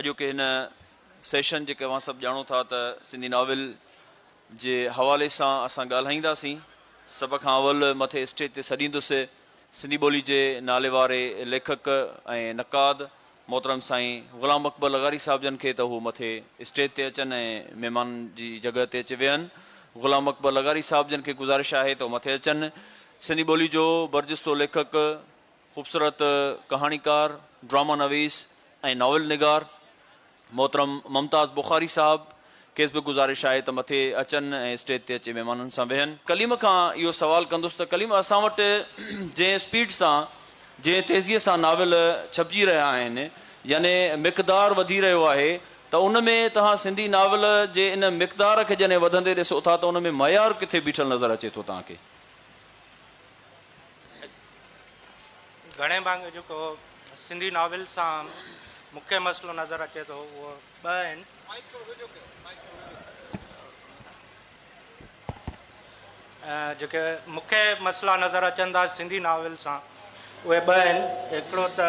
اڄوڪي هن سيشن جيڪي اوهان سڀ ڄاڻو ٿا ته سنڌي ناول جي حوالي سان اسان ڳالهائينداسين سڀ کان اول مٿي اسٽيج تي سڏيندس سنڌي ٻولي جي ناليواري ليکڪ ۽ نقاد محترم سائين غلام اڪبر لغاري صاحب جن کي ته هو مٿي اسٽيج تي اچن ۽ مهمان جي جڳهه تي اچي ويهن غلام اڪبر لغاري صاحب جن کي گذارش آهي ته هو مٿي اچن سنڌي ٻولي جو برجستو ليکڪ خوبصورت ڪهاڻيڪار، ڊراما نويس ۽ ناول نگار محترم ممتاز بخاري صاحب کيس به گذارش آهي ته مٿي اچن ۽ اسٽيج تي اچي مهمانن سان ويهن. ڪليم کان اهو سوال ڪندس ته ڪليم اسان وٽ جنهن اسپيڊ سان جنهن تيزيء سان ناول ڇپجي رهيا آهن يعني مقدار وڌي رهيو آهي ته ان ۾ توهان سنڌي ناول جي ان مقدار کي جڏهن وڌندي ڏسو ٿا ته ان ۾ معيار ڪٿي بيٺل نظر اچي ٿو توهان کي؟ گهڻي ڀاڱي جيڪو سنڌي ناول سان مکيه مسئلو نظر اچي ٿو اهو ٻه آهن جيڪي مکيه مسئلا نظر اچن ٿا سنڌي ناول سان اهي ٻه آهن هڪڙو ته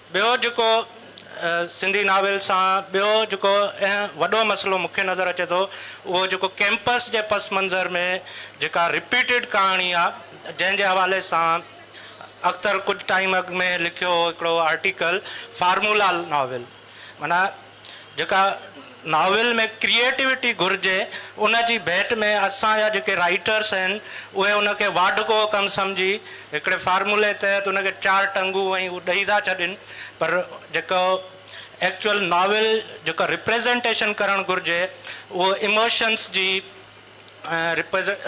ٻيو جيڪو سنڌي ناول سان ٻيو جيڪو اهم وڏو مسئلو مونکي نظر اچي ٿو اهو جيڪو ڪيمپس جي پس منظر ۾ جيڪا رپيٽيڊ ڪهاڻي آ جنهن جي حوالي سان اختر ڪجهه ٽائيم اڳ ۾ لکيو هو هڪڙو آرٽيڪل فارمولا ناول معنيٰ جيڪا ناول ۾ ڪريئيٽوٽي گهرجي ان جي ڀيٽ ۾ اسان جا جيڪي رائيٽرس آهن اهي ان کي واڍڪو ڪم سمجهي هڪڙي فارمولي تحت ان کي چار ٽنگون ۽ هو ڏئي ٿا ڇڏين پر جيڪو ايڪچوئل ناول جيڪا ريپريزنٽيشن ڪرڻ گهرجي اهو ايموشنس جي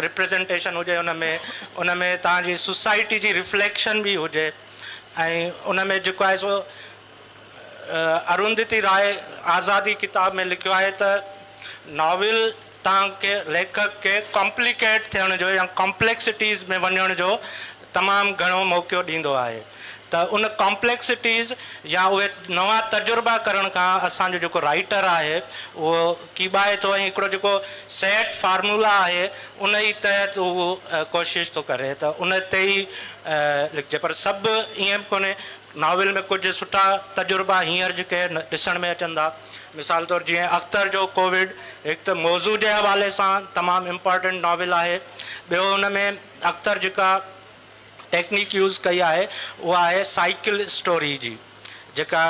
ريپريزنٽيشن هجي ان ۾ ان ۾ توهان جي سوسائٽي جي ريفليڪشن به هجي ۽ ان ۾ جيڪو آهي سو اروندتي راء آزادي ڪتاب ۾ لکيو آهي ته ناول تان کي ليکڪ کي ڪامپليڪيٽ ٿيڻ جو يا ڪامپليڪسٽيز ۾ وڃڻ جو تمام گهڻو موقعو ڏيندو آهي ته ان ڪامپليڪسٽيز يا اهي نوان تجربا ڪرڻ کان اسان جو جيڪو رائيٽر آهي اهو ڪيٻائي ٿو ۽ هڪڙو جيڪو سيٽ فارمولا آهي انهي تحت هو ڪوشش ٿو ڪري ته ان تي ئي لکجي پر سڀ ائين به ڪونهي ناول ۾ ڪجهه سٺا تجربا هينئر جي ڪي ڏسڻ ۾ اچن ٿا. مثال طور جيئن اختر جو ڪووڊ هڪ ته موضوع جي حوالي سان تمام امپارٽنٽ ناول آهي. ٻيو ان ۾ اختر جيڪا ٽيڪنيڪ يوز ڪئي آهي اها آهي سائيڪل اسٽوري جي جيڪا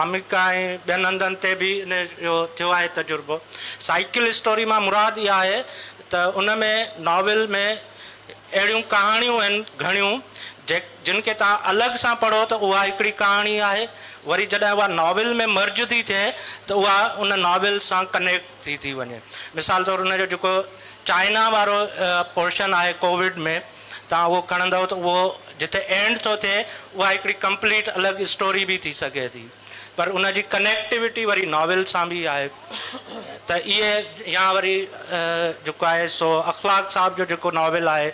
آمريڪا ۽ ٻين هنڌن تي به ان جو ٿيو آهي تجربو. سائيڪل اسٽوري مان مراد اها آهي ته ان ۾ ناول ۾ اهڙيون ڪهاڻيون آهن گهڻيون جيڪ. جن کي توهان الڳ سان پڙهو ته اها هڪڙي ڪهاڻي آهي، وري جڏهن اها ناول ۾ مرج ٿي ٿئي ته اها ان ناول سان ڪنيڪٽ ٿي ٿي وڃي. مثال طور ان جو جيڪو چائنا وارو پورشن آهي ڪووڊ ۾ توهان اهو کڻندؤ ته اهو جتي اينڊ ٿو ٿئي اها هڪڙي ڪمپليٽ الڳ اسٽوري به ٿي سگهي ٿي. پر ان جي ڪنيڪٽيوٽي وري ناول سان به آهي ته اهي يا وري جيڪو آهي سو اخلاق صاحب جو جيڪو ناول آهي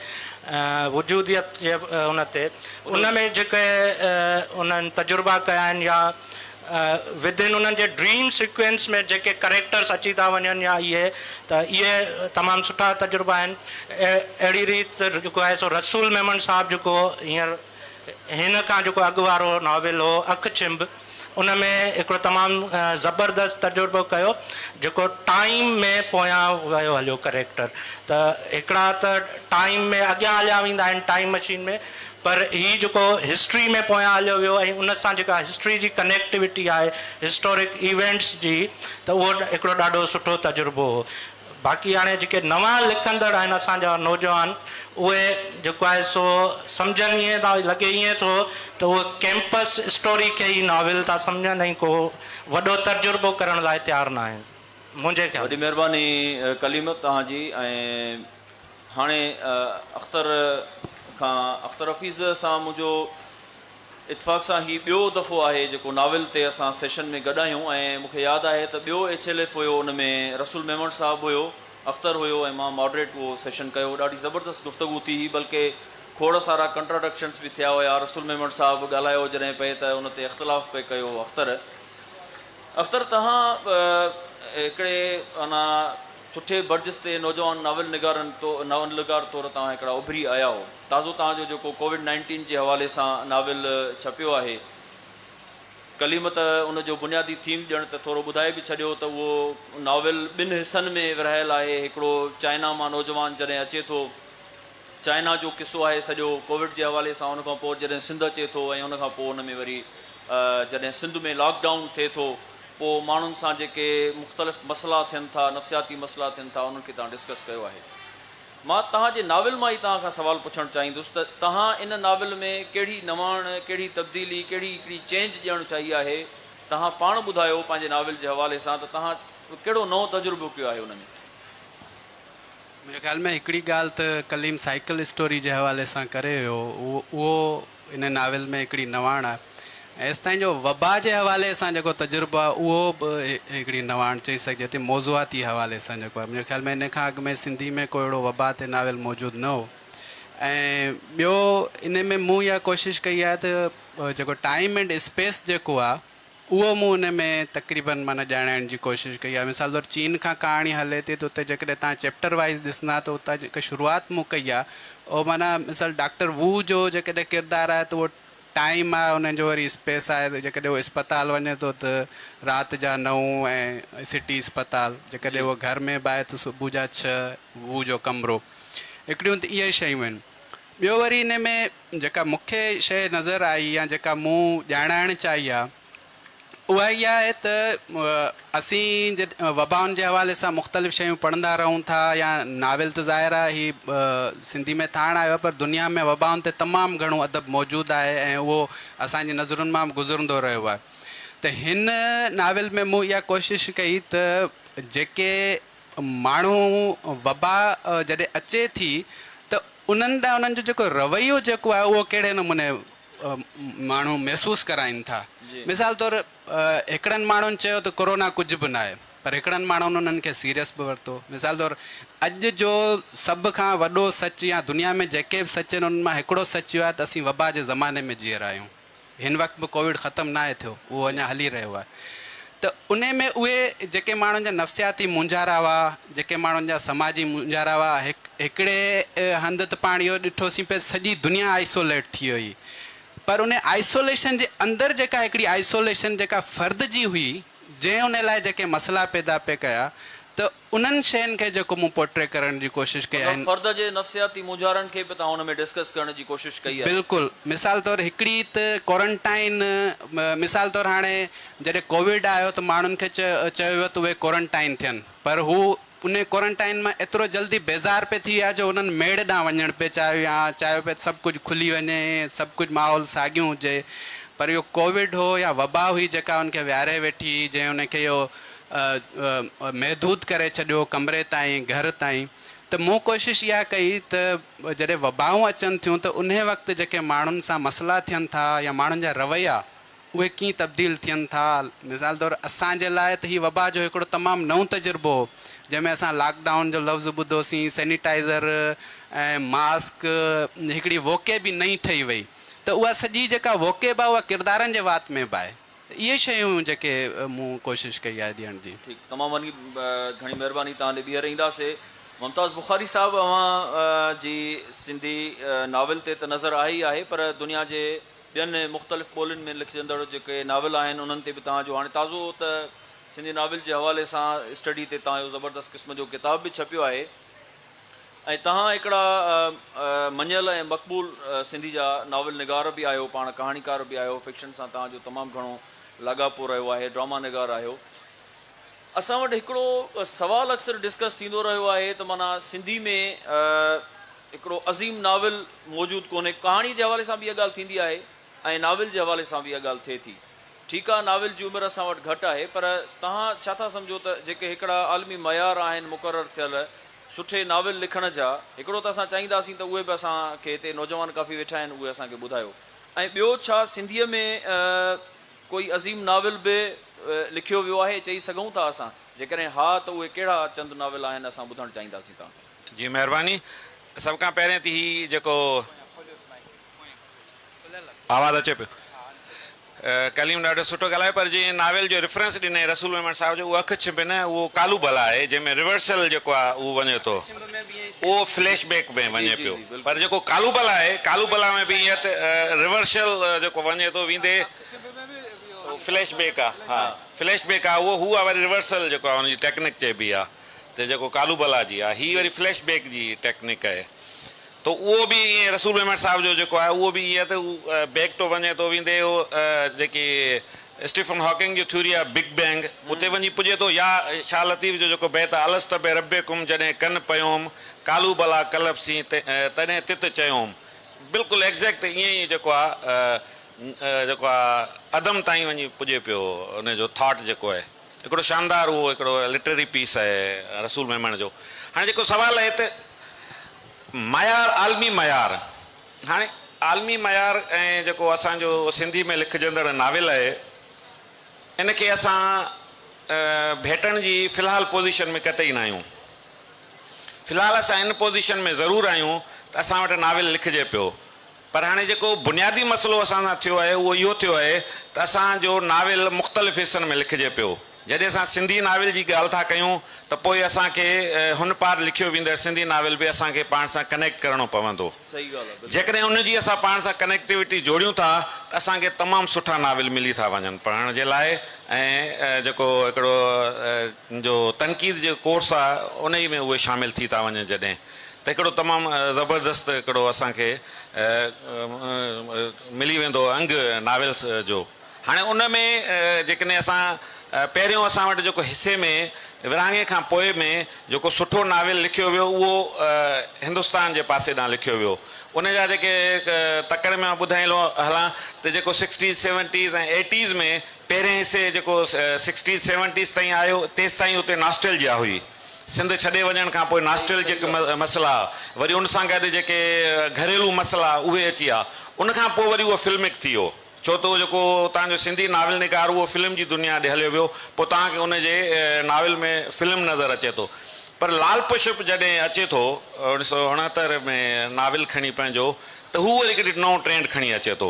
وجوديت جي ان تي ان ۾ جيڪي انهن تجربا ڪيا آهن يا ودن انهن جي ڊريم سيڪوينس ۾ جيڪي ڪريڪٽرس اچي ٿا وڃن يا اهي ته اهي تمام سٺا تجربا آهن اهڙي ريت جيڪو آهي سو رسول ميمڻ صاحب جيڪو هينئر هن کان جيڪو اڳ وارو ناول هو اک چنب ان ۾ هڪڙو تمام زبردست تجربو ڪيو جيڪو ٽائيم ۾ پويان ويو هليو ڪريڪٽر ته هڪڙا ته ٽائيم ۾ اڳيان هليا ويندا آهن ٽائيم مشين ۾ پر هي جيڪو هسٽري ۾ پويان هليو ويو ۽ ان سان جيڪا هسٽري جي ڪنيڪٽوٽي آهي هسٽورڪ ايونٽس جي ته اهو هڪڙو ڏاڍو سٺو تجربو هو. باقي هاڻي جيڪي نوان لکندڙ آهن اسان جا نوجوان اهي جيڪو آهي سو سمجهن ائين ٿا لڳي ائين ٿو ته اهي ڪيمپس اسٽوري کي ئي ناول ٿا سمجهن ۽ ڪو وڏو تجربو ڪرڻ لاء تيار نه آهن منهنجي خيال وڏي ۾. مهرباني ڪليم توهان جي ۽ هاڻي اختر کان اختر حفيظ سان منهنجو. اتفاق سان هي ٻيو دفعو آهي جيڪو ناول تي اسان سيشن ۾ گڏ آهيون ۽ مون کي ياد آهي ته ٻيو ايڇ ايل ايف هيو ان ۾ رسول ميمڻ صاحب هيو، اختر هيو ۽ مان ماڊريٽ اهو سيشن ڪيو ڏاڍي زبردست گفتگو ٿي هي بلڪه کوڙ سارا ڪنٽراڊڪشنس به ٿيا هيا رسول ميمڻ صاحب ڳالهايو جڏهن پئي ته ان تي اختلاف پئي ڪيو اختر اختر تهان هڪڙي انا سٺي برجستي نوجوان ناول نگارن تو ناول نگار طور تهان هڪڙا اڀري آياهو. تازو توهان جو جيڪو ڪووڊ نائنٽين جي حوالي سان ناول ڇپيو آهي ڪليم ته ان جو بنيادي ٿيم ڄڻ ته ٿورو ٻڌائي به ڇڏيو ته اهو ناول ٻن حصن ۾ ورهايل آهي هڪڙو چائنا مان نوجوان جڏهن اچي ٿو چائنا جو قصو آهي سڄو ڪووڊ جي حوالي سان ان کان پوء جڏهن سنڌ اچي ٿو ۽ ان کان پوء ان ۾ وري جڏهن سنڌ ۾ لاڪ ڊائون ٿئي ٿو پوء ماڻهن سان جيڪي مختلف مسئلا ٿين ٿا نفسياتي مسئلا ٿين ٿا انهن کي توهان ڊسڪس ڪيو آهي. مان توهان جي ناول مان ئي توهان کان سوال پڇڻ چاهيندس ته توهان ان ناول ۾ ڪهڙي نواڻ، ڪهڙي تبديلي، ڪهڙي هڪڙي چينج ڏيڻ چاهي آهي؟ توهان پاڻ ٻڌايو پنهنجي ناول جي حوالي سان ته توهان ڪهڙو نئون تجربو ڪيو آهي ان ۾؟ منهنجي خيال ۾ هڪڙي ڳالهه ته ڪليم سائيڪل اسٽوري جي حوالي سان ڪري ويو اهو ان ناول ۾ هڪڙي نواڻ آهي ۽ ايستائين جو وبا جي حوالي سان جيڪو تجربو آهي اهو به هڪڙي نواڻ چئي سگهجي ٿي موضوعاتي حوالي سان جيڪو آهي منهنجي خيال ۾ ان کان اڳ ۾ سنڌي ۾ ڪو اهڙو وبا تي ناول موجود نه هو ۽ ٻيو ان ۾ مون اها ڪوشش ڪئي آهي ته جيڪو ٽائيم اينڊ اسپيس جيڪو آهي اهو مون ان ۾ تقريبن معنيٰ ڄاڻائڻ جي ڪوشش ڪئي آهي. مثال طور چين کان ڪهاڻي هلي ٿي ته اتي جيڪڏهن توهان چيپٽر وائيز ڏسندا ته اتان جيڪا شروعات مون ڪئي آهي اهو معنيٰ مثال ڊاڪٽر وو جو جيڪڏهن ڪردار آهي ته اهو ٽائيم آهي انهن جو وري اسپيس آهي ته جيڪڏهن هو اسپتال وڃي ٿو ته رات جا نو ۽ سٽي اسپتال جيڪڏهن جي. هو گهر ۾ به آهي ته صبح جا ڇهه وو جو ڪمرو هڪڙيون ته اهي شيون آهن ٻيو وري انهي ۾ جيڪا مون کي شيء نظر آئي يا جيڪا مون ڄاڻائڻ چاهي آهي اها اها آهي ته اسين جڏهن وبائن جي حوالي سان مختلف شيون پڙهندا رهون ٿا يا ناول ته ظاهر آهي هي سنڌي ۾ ٿاڻ آيو آهي پر دنيا ۾ وبائن تي تمام گهڻو ادب موجود آهي ۽ اهو اسان جي نظرن مان به گذرندو رهيو آهي ته هن ناول ۾ مون اها ڪوشش ڪئي ته جيڪي ماڻهو وبا جڏهن اچي ٿي ته انهن ڏانهن انهن جو جيڪو رويو جيڪو آهي اهو ڪهڙي نموني ماڻهو محسوس ڪرائين ٿا. مثال طور هڪڙن ماڻهن چيو ته ڪورونا ڪجهه به ناهي پر هڪڙن ماڻهن انهن کي سيريس به ورتو. مثال طور اڄ جو سڀ کان وڏو سچ يا دنيا ۾ جيڪي به سچ آهن انهن مان هڪڙو سچ اهو آهي ته اسين وبا جي زماني ۾ جي رهيا آهيون. هن وقت به ڪوويڊ ختم ناهي ٿيو اهو اڃا هلي رهيو آهي ته ان ۾ اهي جيڪي ماڻهن جا نفسياتي مونجهارا هئا جيڪي ماڻهن جا سماجي مونجهارا هئا هڪڙي هنڌ ته پاڻ اهو ڏٺوسين پئي سڄي دنيا آئسوليٽ ٿي وئي پر ان آئسوليشن جي اندر جيڪا هڪڙي آئسوليشن جيڪا فرد جي هئي جنهن ان لاء جيڪي مسئلا پيدا پئي ڪيا ته انهن شين کي جيڪو مون پورٽري ڪرڻ جي ڪوشش ڪئي مطلب آهن. فرد جي نفسياتي مونجهارن کي به توهان ان ۾ ڊسڪس ڪرڻ جي ڪوشش ڪئي آهي. بلڪل مثال طور هڪڙي ته ڪورنٽائن مثال طور هاڻي جڏهن ڪوويڊ آيو ته ماڻهن کي چيو ويو ته اهي ڪورنٽائن ٿين پر هو انهي ڪورنٽائن مان ايترو جلدي بيزار پئي ٿي ويا جو هنن ميڙ ڏانهن وڃڻ پئي چاهيو يا چاهيو پئي ته سڀ ڪجهه کلي وڃي سڀ ڪجهه ماحول ساڳيون هجي پر اهو ڪوويڊ هو يا وبا هئي جيڪا ان کي ويهاري ويٺي جنهن ان کي اهو محدود ڪري ڇڏيو ڪمري تائين گهر تائين ته مون ڪوشش اها ڪئي ته جڏهن وبائون اچن ٿيون ته انهي وقت جيڪي ماڻهن سان مسئلا ٿين ٿا يا ماڻهن جا رويا اهي ڪيئن تبديل ٿين ٿا مثال طور اسان جي لاء ته هي وبا جو هڪڙو تمام نئون تجربو هو جنهن ۾ اسان لاڪ ڊائون جو لفظ ٻڌو سين سينيٽائزر ۽ ماسڪ هڪڙي ووڪيب ئي نئين ٺهي وئي ته اها سڄي جيڪا ووڪيب آهي اها ڪردارن جي وات ۾ به آهي. ته اهي شيون جيڪي مون ڪوشش ڪئي آهي ڏيڻ جي. ٺيڪ تمام وڏي گهڻي مهرباني توهان ڏي ٻيهر اينداسي. ممتاز بخاري صاحب اوهان جي سنڌي ناول تي ته نظر آهي ئي آهي پر دنيا جي ٻين مختلف ٻولين ۾ لکجندڙ جيڪي ناول آهن انهن تي به توهان جو هاڻي تازو ته سنڌي ناول جي حوالي سان اسٽڊي تي توهان جو زبردست قسم جو ڪتاب به ڇپيو آهي ۽ توهان هڪڙا مڃيل ۽ مقبول سنڌي جا ناول نگار به آهيو، پاڻ ڪهاڻيڪار به آهيو، فڪشن سان توهان جو تمام گهڻو لاڳاپو رهيو آهي، ڊراما نگار آهيو. اسان وٽ هڪڙو سوال اڪثر ڊسڪس ٿيندو رهيو آهي ته معنيٰ سنڌي ۾ هڪڙو عظيم ناول موجود ڪونهي، ڪهاڻي جي حوالي سان به اها ڳالهه ٿيندي آهي ۽ ناول جي حوالي سان به اها ڳالهه ٿئي ٿي. ٺيڪ آ ناول جي عمر اسان وٽ گهٽ آهي پر توهان ڇا ٿا سمجهو ته جيڪي هڪڙا عالمي معيار آهن مقرر ٿيل سٺي ناول لکڻ جا هڪڙو ته اسان چاهينداسين ته اهي به اسان کي هتي نوجوان ڪافي ويٺا آهن اهي اسان کي ٻڌايو ۽ ٻيو ڇا سنڌيء ۾ ڪوئي عظيم ناول به لکيو ويو آهي چئي سگهون ٿا اسان جيڪڏهن ها ته اهي ڪهڙا چند ناول آهن اسان ٻڌڻ چاهينداسين توهان کان. جي مهرباني سڀ کان پهرين تي هي جيڪو. آواز اچي پيو. ڪليم ڏاڍو سٺو ڳالهايو پر جنهن ناول جو ريفرنس ڏنئي رسول ميمڻ صاحب جو اهو اک ڇنڀ نه اهو ڪالو بلا آهي جنهن ۾ ريورسل جيڪو آهي اهو وڃي ٿو اهو فليش بيڪ ۾ وڃي پيو پر جيڪو ڪالو بلا آهي ڪالو بلا ۾ به ائين ريورسل جيڪو وڃي ٿو ويندي اهو فليش بيڪ آهي ها فليش بيڪ آهي اهو هو آهي وري ريورسل جيڪو آهي ان جي ٽيڪنڪ چئبي آهي ته جيڪو ڪالو بلا جي آهي هي وري فليش بيڪ جي ٽيڪنڪ آهي ته اهو به ائين رسول ميمڻ صاحب جو جيڪو آهي اهو به ائين ته هو بيڪ ٽو وڃي ٿو ويندي هو جيڪي اسٽيفن هاڪنگ جي ٿيوري آف بگ بينگ اتي وڃي پڄي ٿو يا شاهه لطيف جو جيڪو بيت آهي الست بربڪم جڏهن ڪن پيوم قالو بلا ڪلب سين تڏهن تت چيوم بلڪل ايگزيڪٽ ائين ئي جيڪو آهي جيڪو آهي عدم تائين وڃي پڄي پيو ان جو ٿاٽ جيڪو آهي. هڪڙو شاندار اهو هڪڙو لٽرري پيس آهي رسول ميمڻ جو. هاڻي جيڪو سوال آهي ته معيار عالمي معيار هاڻي عالمي معيار ۽ جيڪو اسان جو سنڌي ۾ لکجندڙ ناول آهي ان کي اسان ڀيٽڻ جي في الحال پوزيشن ۾ قطعي نه آهيون. في الحال اسان ان پوزيشن ۾ ضرور آهيون ته اسان وٽ ناول لکجي پيو. پر هاڻي جيڪو بنيادي مسئلو اسان سان ٿيو آهي اهو اهو ٿيو آهي ته اسان جو ناول مختلف حصن ۾ لکجي پيو. جڏهن اسان سنڌي ناول جي ڳالهه ٿا ڪيون ته پوء اسان کي هن پار لکيو ويندڙ سنڌي ناول به اسان کي پاڻ سان ڪنيڪٽ ڪرڻو پوندو. جيڪڏهن ان جي اسان پاڻ سان ڪنيڪٽيوٽي جوڙيون ٿا ته اسان کي تمام سٺا ناول ملي ٿا وڃن پڙهڻ جي لاء ۽ جيڪو هڪڙو جو تنقيد جو ڪورس آهي انهي ۾ اهي شامل ٿي ٿا وڃن جڏهن ته هڪڙو تمام زبردست هڪڙو اسان کي ملي ويندو انگ ناولس جو هاڻي ان ۾ جيڪڏهن اسان پهريون اسان وٽ جيڪو حصي ۾ ورهاڱي کان پوء ۾ جيڪو سٺو ناول لکيو ويو اهو هندستان جي پاسي ڏانهن لکيو ويو ان جا جيڪي تڪڙ ۾ ٻڌائي لو هلان ته جيڪو سڪسٽيز سيونٽيز ۽ ايٽيز ۾ پهرين حصي جيڪو سڪسٽيز سيونٽيز تائين آيو تيستائين اتي ناسٽيلجيا هئي. سنڌ ڇڏي وڃڻ کان پوء ناسٽيلجڪ مسئلا، وري ان سان گڏ جيڪي گهريلو مسئلا اهي اچي ويا. ان کان پوء وري اهو فلمڪ ٿي ويو. ڇو ته اهو جيڪو اتان جو سنڌي ناول نگار اهو فلم جي دنيا ڏي هليو ويو. پوء توهان کي ان جي ناول ۾ فلم نظر اچي ٿو. پر لال پشپ جڏهن اچي ٿو اوڻيهه سؤ اڻهتر ۾ ناول کڻي پنهنجو ته هو وري هڪ نئون ٽرينڊ کڻي اچي ٿو.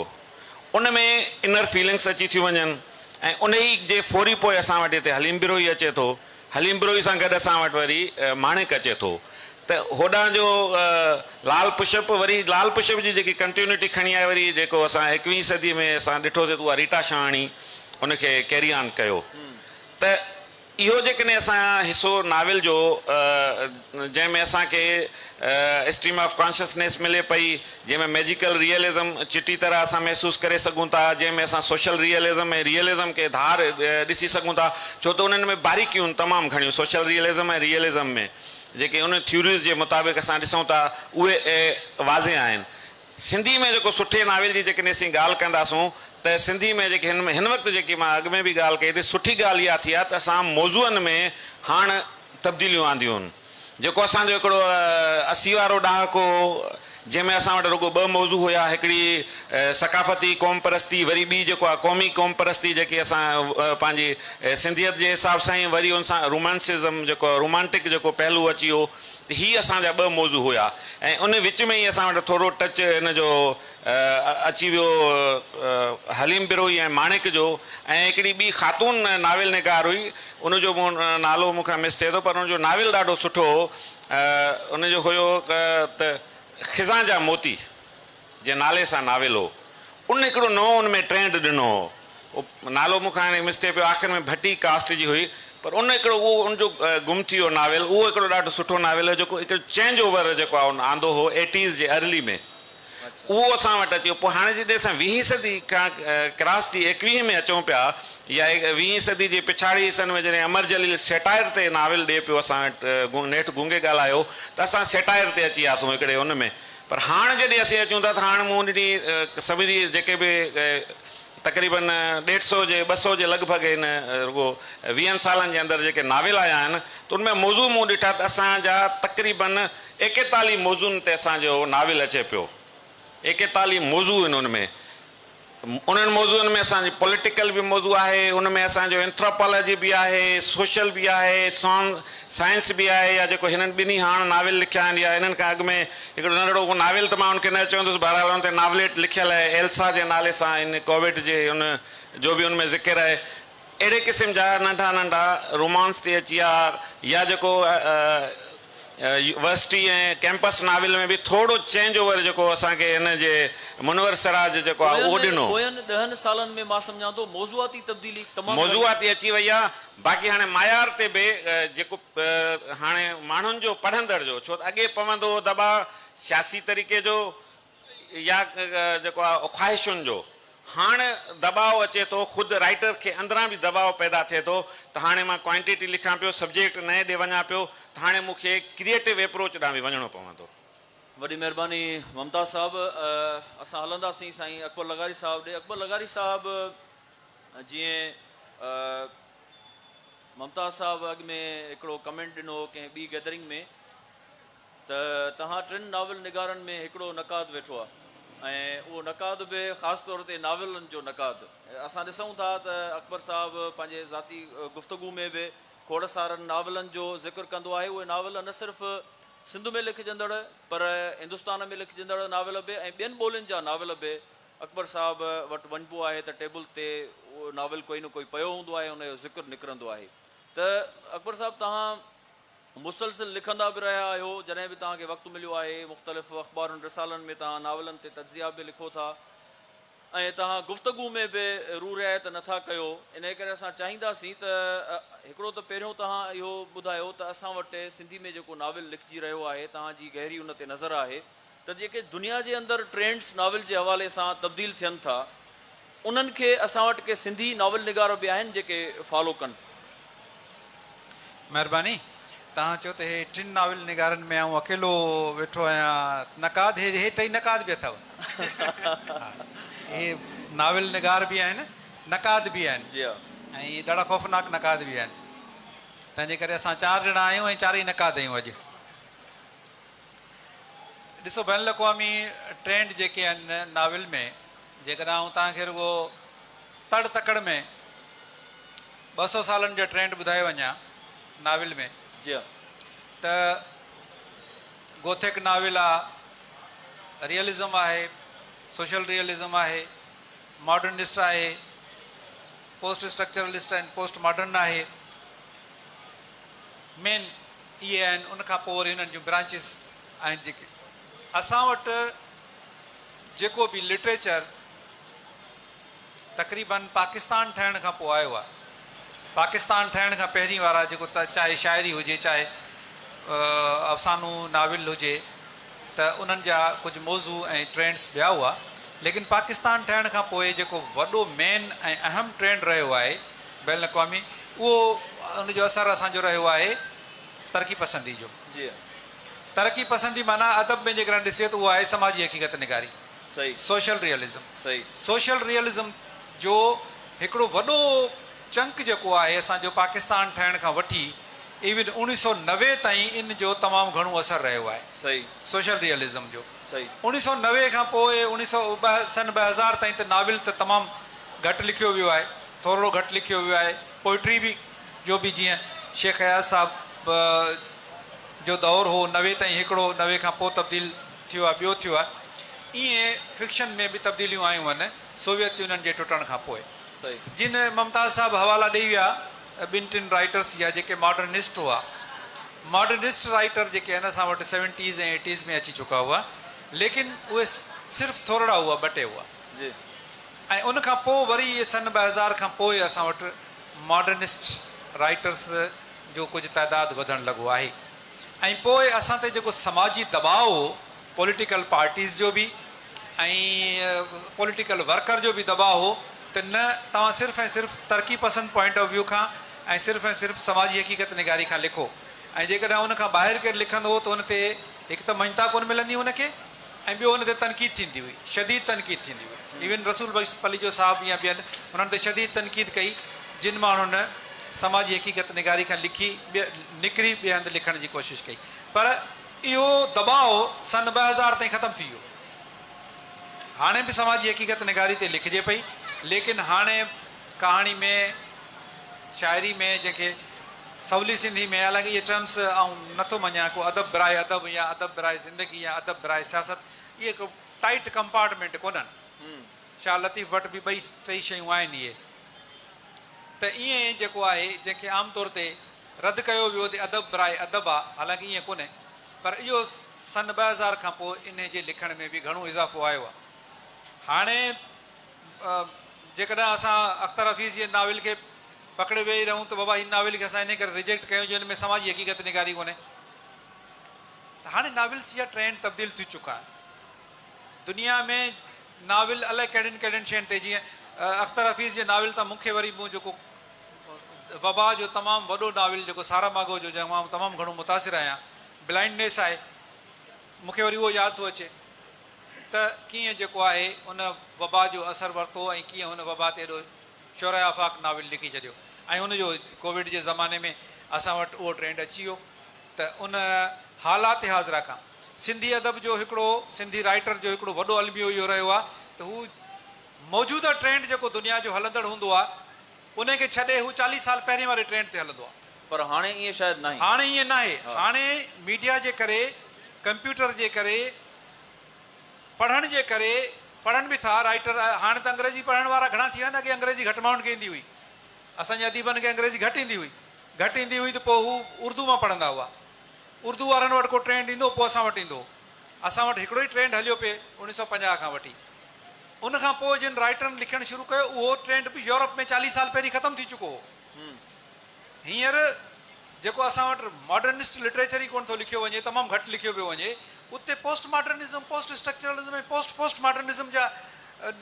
ان ۾ انر فيلنگس اچي ٿيون وڃن ۽ انهي جي فوري پوء اسان وٽ هتي حليم بروهي اچي ٿو. حليم بروهي سان گڏ اسان وٽ وري ماڻڪ اچي ٿو ته هوڏانهن جو لال پشپ وري لال پشپ جي جيڪي ڪنٽيونٽي کڻي آهي وري جيڪو اسان ايڪويهين صدي ۾ اسان ڏٺوسي ته اها ريٽا شاهاڻي ان کي ڪيري آن ڪيو ته اهو جيڪڏهن اسان حصو ناول جو جنهن ۾ اسان کي اسٽريم آف ڪانشسنيس ملي پئي، جنهن ۾ ميجيڪل ريئلزم چٽي طرح اسان محسوس ڪري سگهون ٿا، جنهن ۾ اسان سوشل ريئلزم ۽ ريئلزم کي ڌار ڏسي سگهون ٿا، ڇو ته انهن ۾ باريڪيون تمام گهڻيون سوشل ريئلزم ۽ ريئلزم ۾ جيڪي انهن ٿيوريز جي مطابق اسان ڏسون ٿا اهي واضح آهن. سنڌي ۾ جيڪو سٺي ناول جي جيڪڏهن اسين ڳالهه ڪنداسون ته سنڌي ۾ جيڪي هن هن وقت جيڪي مان اڳ ۾ به ڳالهه ڪئي ته سٺي ڳالهه اها ٿي آهي ته اسان موضوعن ۾ هاڻ تبديليون آنديون آهن جيڪو اسان جو هڪڙو اسي وارو ڏهاڪو هو جنهن ۾ اسان وٽ رڳو ٻه موضوع هيا هڪڙي ثقافتي قوم پرستي وري ٻي جيڪو آهي قومي قوم پرستي جيڪي اسان پنهنجي سنڌيت جي حساب سان وري ان سان رومانسزم جيڪو رومانٽڪ جيڪو پهلو اچي ويو هي اسان جا ٻه موضوع هيا ۽ ان وچ ۾ ئي اسان وٽ ٿورو ٽچ هن جو اچي ويو حليم بروهي ۽ ماڻڪ جو ۽ هڪڙي ٻي خاتون ناول نگار هئي ان جو مون نالو مون کان مس ٿئي ٿو پر ان جو ناول ڏاڍو سٺو هو ان جو هيو ته خزان جا موتي. جنهن نالي سان ناول هو ان هڪڙو نئون ان ۾ ٽرينڊ ڏنو هو اهو نالو مون کان هاڻي مس ٿئي پيو آخر ۾ ڀٽي ڪاسٽ جي هئي پر ان هڪڙو اهو ان جو گم ٿي ويو ناول اهو هڪڙو ڏاڍو سٺو ناول هو جيڪو هڪڙو چينج اوور جيڪو آهي ان آندو هو ايٽيز جي ارلي ۾ اهو اسان وٽ اچي ويو پوء هاڻي جڏهن اسان ويهين صدي کان ڪراس ٿي ايڪويهين ۾ اچون پيا يا ويهين صدي جي پڇاڙي حصن ۾ جڏهن امر جليل سيٽائر تي ناول ڏئي پيو اسان وٽ نيٺ گونگي ڳالهايو ته اسان سيٽائر تي اچي وياسون هڪڙي ان ۾ پر هاڻ جڏهن اسين اچون ٿا ته هاڻ مون ڏني سڀ جي جيڪي به تقريباً ڏيڍ سئو جي ٻه سئو جي لڳ ڀڳ هن رڳو ويهن سالن جي اندر جيڪي ناول آيا آهن ته ان ۾ موضوع مون ڏٺا ته اسان جا تقريباً ايڪيتاليهه موضوعن تي اسان جو ناول اچي پيو ايڪيتاليهه موضوع ان ان ۾ انهن موضوعن ۾ اسان جي پوليٽيڪل به موضوع آهي، ان ۾ اسان جو اينٿراپالاجي به آهي، سوشل به آهي، سان سائنس به آهي يا جيڪو هنن ٻنهي هاڻ ناول لکيا آهن يا انهن کان اڳ ۾ هڪڙو ننڍڙو ڪو ناول ته مان ان کي نه چوندس بهرحال ان تي ناوليٽ لکيل آهي ايلسا جي نالي سان ان ڪوويٽ جي ان جو به ان ۾ ذڪر آهي. اهڙي قسم جا ننڍا ننڍا رومانس تي اچي ها يا جيڪو يوورسٽي ۽ ڪيمپس ناول ۾ به ٿورو چينج اوور جيڪو اسان کي هن جي منور سراج جيڪو آهي اهو ڏنو. پوين ڏهن سالن ۾ مان سمجهان ٿو موضوعاتي تبديلي تمام گهڻي. موضوعاتي اچي وئي آهي باقي هاڻي معيار تي به جيڪو هاڻي ماڻهن جو پڙهندڙ جو ڇو ته اڳي پوندو هو دٻاء سياسي طريقي جو. يا جيڪو آ خواهشن جو هاڻ دٻاء اچي ٿو خود رائيٽر کي اندران به دٻاء پيدا ٿئي ٿو ته هاڻي مان ڪوانٽيٽي لکان پيو سبجيڪٽ نئين ڏي وڃان پيو ته هاڻي مون کي ڪريئيٽو ايپروچ ڏانهن به وڃڻو پوندو. وڏي مهرباني ممتاز صاحب اسان هلنداسين سائين اڪبر لغاري صاحب ڏي اڪبر لغاري صاحب جيئن ممتاز صاحب اڳ ۾ هڪڙو ڪمينٽ ڏنو هو ڪنهن ٻي گيدرنگ ۾. ته توهان ٽن ناول نگارن ۾ هڪڙو نقاد ويٺو آهي ۽ اهو نقاد به خاص طور تي ناولن جو نقاد. اسان ڏسون ٿا ته اڪبر صاحب پنهنجي ذاتي گفتگو ۾ به کوڙ سارن ناولن جو ذڪر ڪندو آهي. اهي ناول نه صرف سنڌ ۾ لکجندڙ پر هندستان ۾ لکجندڙ ناول به ۽ ٻين ٻولين جا ناول به اڪبر صاحب وٽ وڃبو آهي ته ٽيبل تي ناول ڪوئي نه ڪوئي پيو هوندو آهي ان جو ذڪر نڪرندو آهي ته اڪبر صاحب توهان مسلسل لکندا به رهيا آهيو، جڏهن به توهان کي وقت مليو آهي، مختلف اخبارن رسالن ۾ توهان ناولن تي تجزيا به لکو ٿا ۽ توهان گفتگو ۾ به روح رعايت نه ٿا ڪيو، انهيء ڪري اسان چاهينداسين ته هڪڙو ته پهريون توهان اهو ٻڌايو ته اسان وٽ سنڌي ۾ جيڪو ناول لکجي رهيو آهي، توهان جي گهري ان تي نظر آهي، ته جيڪي دنيا جي اندر ٽرينڊز ناول جي حوالي سان تبديل ٿين ٿا انهن کي اسان وٽ ڪي سنڌي ناول نگار به آهن جيڪي فالو ڪن. مهرباني. توهان چيو ته هي ٽن ناول نگارن ۾ آئون اڪيلو ويٺو آهيان نقاد هي هي ٽئي نقاد به اٿو ها هي ناول نگار به آهن نقاد به آهن جي ها. ۽ ڏاڍا خوفناڪ نقاد به آهن تنهن جي ڪري اسان چار ڄڻا آهيون ۽ چارئي نقاد آهيون اڄ. ڏسو بين الاقوامي ٽرينڊ جيڪي آهن ناول ۾ جيڪڏهن آئون توهان کي رڳو تڙ تڪڙ ۾ ٻه سؤ سالن جو ٽرينڊ ٻڌائي وڃان ناول ۾ جي ته گوٿيڪ ناول آ ريئلزم آهي سوشل ريئلزم آهي ماڊرنسٽ آهي پوسٽ اسٽرڪچرلسٽ آهن پوسٽ ماڊرن آهي مين اهي آهن ان کان پوء وري انهن جون برانچز آهن جيڪي اسان وٽ جيڪو به لٽريچر تقريبن پاڪستان ٺهڻ کان پوء آيو آهي پاڪستان ٺهڻ کان پهرين وارا جيڪو چاهي شاعري هجي چاهي افسانو ناول هجي ته انهن جا ڪجهه موضوع ۽ ٽرينڊس ٻيا هئا ليڪن پاڪستان ٺهڻ کان پوء جيڪو وڏو مين ۽ اهم ٽرينڊ رهيو آهي بين الاقوامي اهو ان جو اثر اسان جو رهيو آهي ترقي پسندي جو ترقي پسندي معنيٰ ادب ۾ جيڪڏهن ڏسجي ته اهو آهي سماجي حقيقت نگاري سوشل ريئلزم سوشل ريئلزم جو هڪڙو وڏو چنڪ جيڪو آهي اسان جو پاڪستان ٺهڻ کان وٺي ايون اوڻيهه سؤ نوي تائين ان جو تمام گهڻو اثر رهيو آهي سوشل ريئلزم جو اوڻيهه سؤ نوي کان پوء اوڻيهه سؤ سن ٻه هزار تائين ته ناول ته تمام گهٽ لکيو ويو آهي، ٿورڙو گهٽ لکيو ويو آهي، پوئٽري به جو به جيئن شيخ اياز صاحب جو دور هو نوي تائين هڪڙو نوي کان پوء تبديل ٿيو آهي ٻيو ٿيو آهي ائين فڪشن ۾ به تبديليون آيون هن سوويت يونين جي ٽٽڻ کان پوء جن ممتاز صاحب حوالا ڏئي ويا ٻن ٽن رائيٽرس جا جيڪي ماڊرنسٽ هئا ماڊرنسٽ رائيٽر جيڪي هن اسان وٽ سيونٽيز ۽ ايٽيز ۾ اچي چڪا هئا ليڪن اهي صرف ٿورڙا هئا ٻه ٽي هئا. جي ۽ ان کان پوء وري اهي سن ٻه هزار کان پوء اسان وٽ ماڊرنسٽ رائيٽرس جو ڪجهه تعداد وڌڻ لڳو آهي ۽ پوء اسان تي جيڪو سماجي دٻاء هو پوليٽيڪل پارٽيز جو به ۽ پوليٽيڪل ورڪر جو به دٻاء هو ته نه توهان صرف ۽ صرف ترقي پسند پوائنٽ آف ويو کان ۽ صرف ۽ صرف سماجي حقيقت نگاري کان لکو ۽ جيڪڏهن ان کان ٻاهر ڪير لکندو هو ته ان تي هڪ ته مڃتا ڪونه ملندي هئي ان کي ۽ ٻيو ان تي تنقيد ٿيندي هئي، شديد تنقيد ٿيندي هئي. ايون رسول بخش پليجو صاحب يا ٻين انهن تي شديد تنقيد ڪئي، جن ماڻهن سماجي حقيقت نگاري کان لکي ٻي نڪري ٻئي هنڌ لکڻ جي ڪوشش ڪئي. پر اهو دٻاء سن ٻه هزار تائين ختم ٿي ويو. هاڻي به سماجي حقيقت نگاري تي لکجي پئي، ليڪن هاڻي ڪهاڻي ۾. شاعري ۾ جنهن کي سولي سنڌي ۾ حالانڪ اهي ٽرمس آئون نه ٿو مڃيان ڪو ادب براء ادب يا ادب براء زندگي يا ادب براء سياست اهي ڪو ٽائيٽ ڪمپارٽمينٽ ڪونهن شاهه لطيف وٽ به ٻئي ٽئي شيون آهن اهي ته ائين جيڪو آهي جنهن کي عام طور تي رد ڪيو ويو ته ادب براء ادب آ حالانڪ ائين ڪونهي پر اهو سن ٻه هزار کان پوء انهي جي لکڻ ۾ به گهڻو اضافو آيو آ هاڻي جيڪڏهن اسان اختر حفيظ جي ناول کي پڪڙي ويهي رهون ته بابا هن ناول کي اسان انهي ڪري ريجيڪٽ ڪيو جو هن ۾ سماجي حقيقت نگاري ڪونهي ته هاڻي ناولس جا ٽرينڊ تبديل ٿي چڪا آهن دنيا ۾ ناول الاء ڪهڙين ڪهڙين شين تي جيئن اختر حفيظ جي ناول تان مون کي وري مون جيڪو وبا جو تمام وڏو ناول جيڪو سارا ماگو جو جنهن مان تمام گهڻو متاثر آهيان بلائنڊنيس آهي مون کي وري اهو ياد ٿو اچي ته ڪيئن جيڪو آهي ان وبا جو اثر ورتو ۽ ڪيئن هن وبا تي ايڏو شعرائي آفاق ناول لکي ڇڏيو ۽ ان جو ڪووڊ جي زماني ۾ اسان وٽ اهو ٽرينڊ اچي ويو ته ان حالات حاضره کان سنڌي ادب جو هڪڙو سنڌي رائيٽر جو هڪڙو وڏو الميو اهو رهيو آهي ته هو موجوده ٽرينڊ جيڪو دنيا جو هلندڙ هوندو آهي انهيء کي ڇڏي هو چاليهه سال پهرين واري ٽرينڊ تي هلندو آهي. پر هاڻي ائين شايد ناهي. هاڻي ائين ناهي. هاڻي ميڊيا جي ڪري، ڪمپيوٽر جي ڪري، پڙهڻ جي ڪري، پڙهن به ٿا رائيٽر، هاڻي ته انگريزي پڙهڻ وارا گهڻا ٿي ويا آهن، اڳي انگريزي گهٽ ماڻهن کي ايندي هئي. اسان جي اديبن کي انگريزي گهٽ ايندي هئي. گهٽ ايندي هئي ته پوء هو اردو مان پڙهندا هئا. اردو وارن وٽ ڪو ٽرينڊ ايندو هو، پوء اسان وٽ ايندو هو. اسان وٽ هڪڙو ئي ٽرينڊ هليو پئي اوڻيهه سؤ پنجاهه کان وٺي ان کان پوء جن رائيٽرن لکڻ شروع ڪيو اهو ٽرينڊ به يورپ ۾ چاليهه سال پهرين ختم ٿي چڪو هو هينئر جيڪو اسان وٽ ماڊرنسٽ لٽريچر ئي ڪونه ٿو لکيو وڃي تمام گهٽ لکيو پيو وڃي اتي post modernism post structuralism ۽ post post modernism جا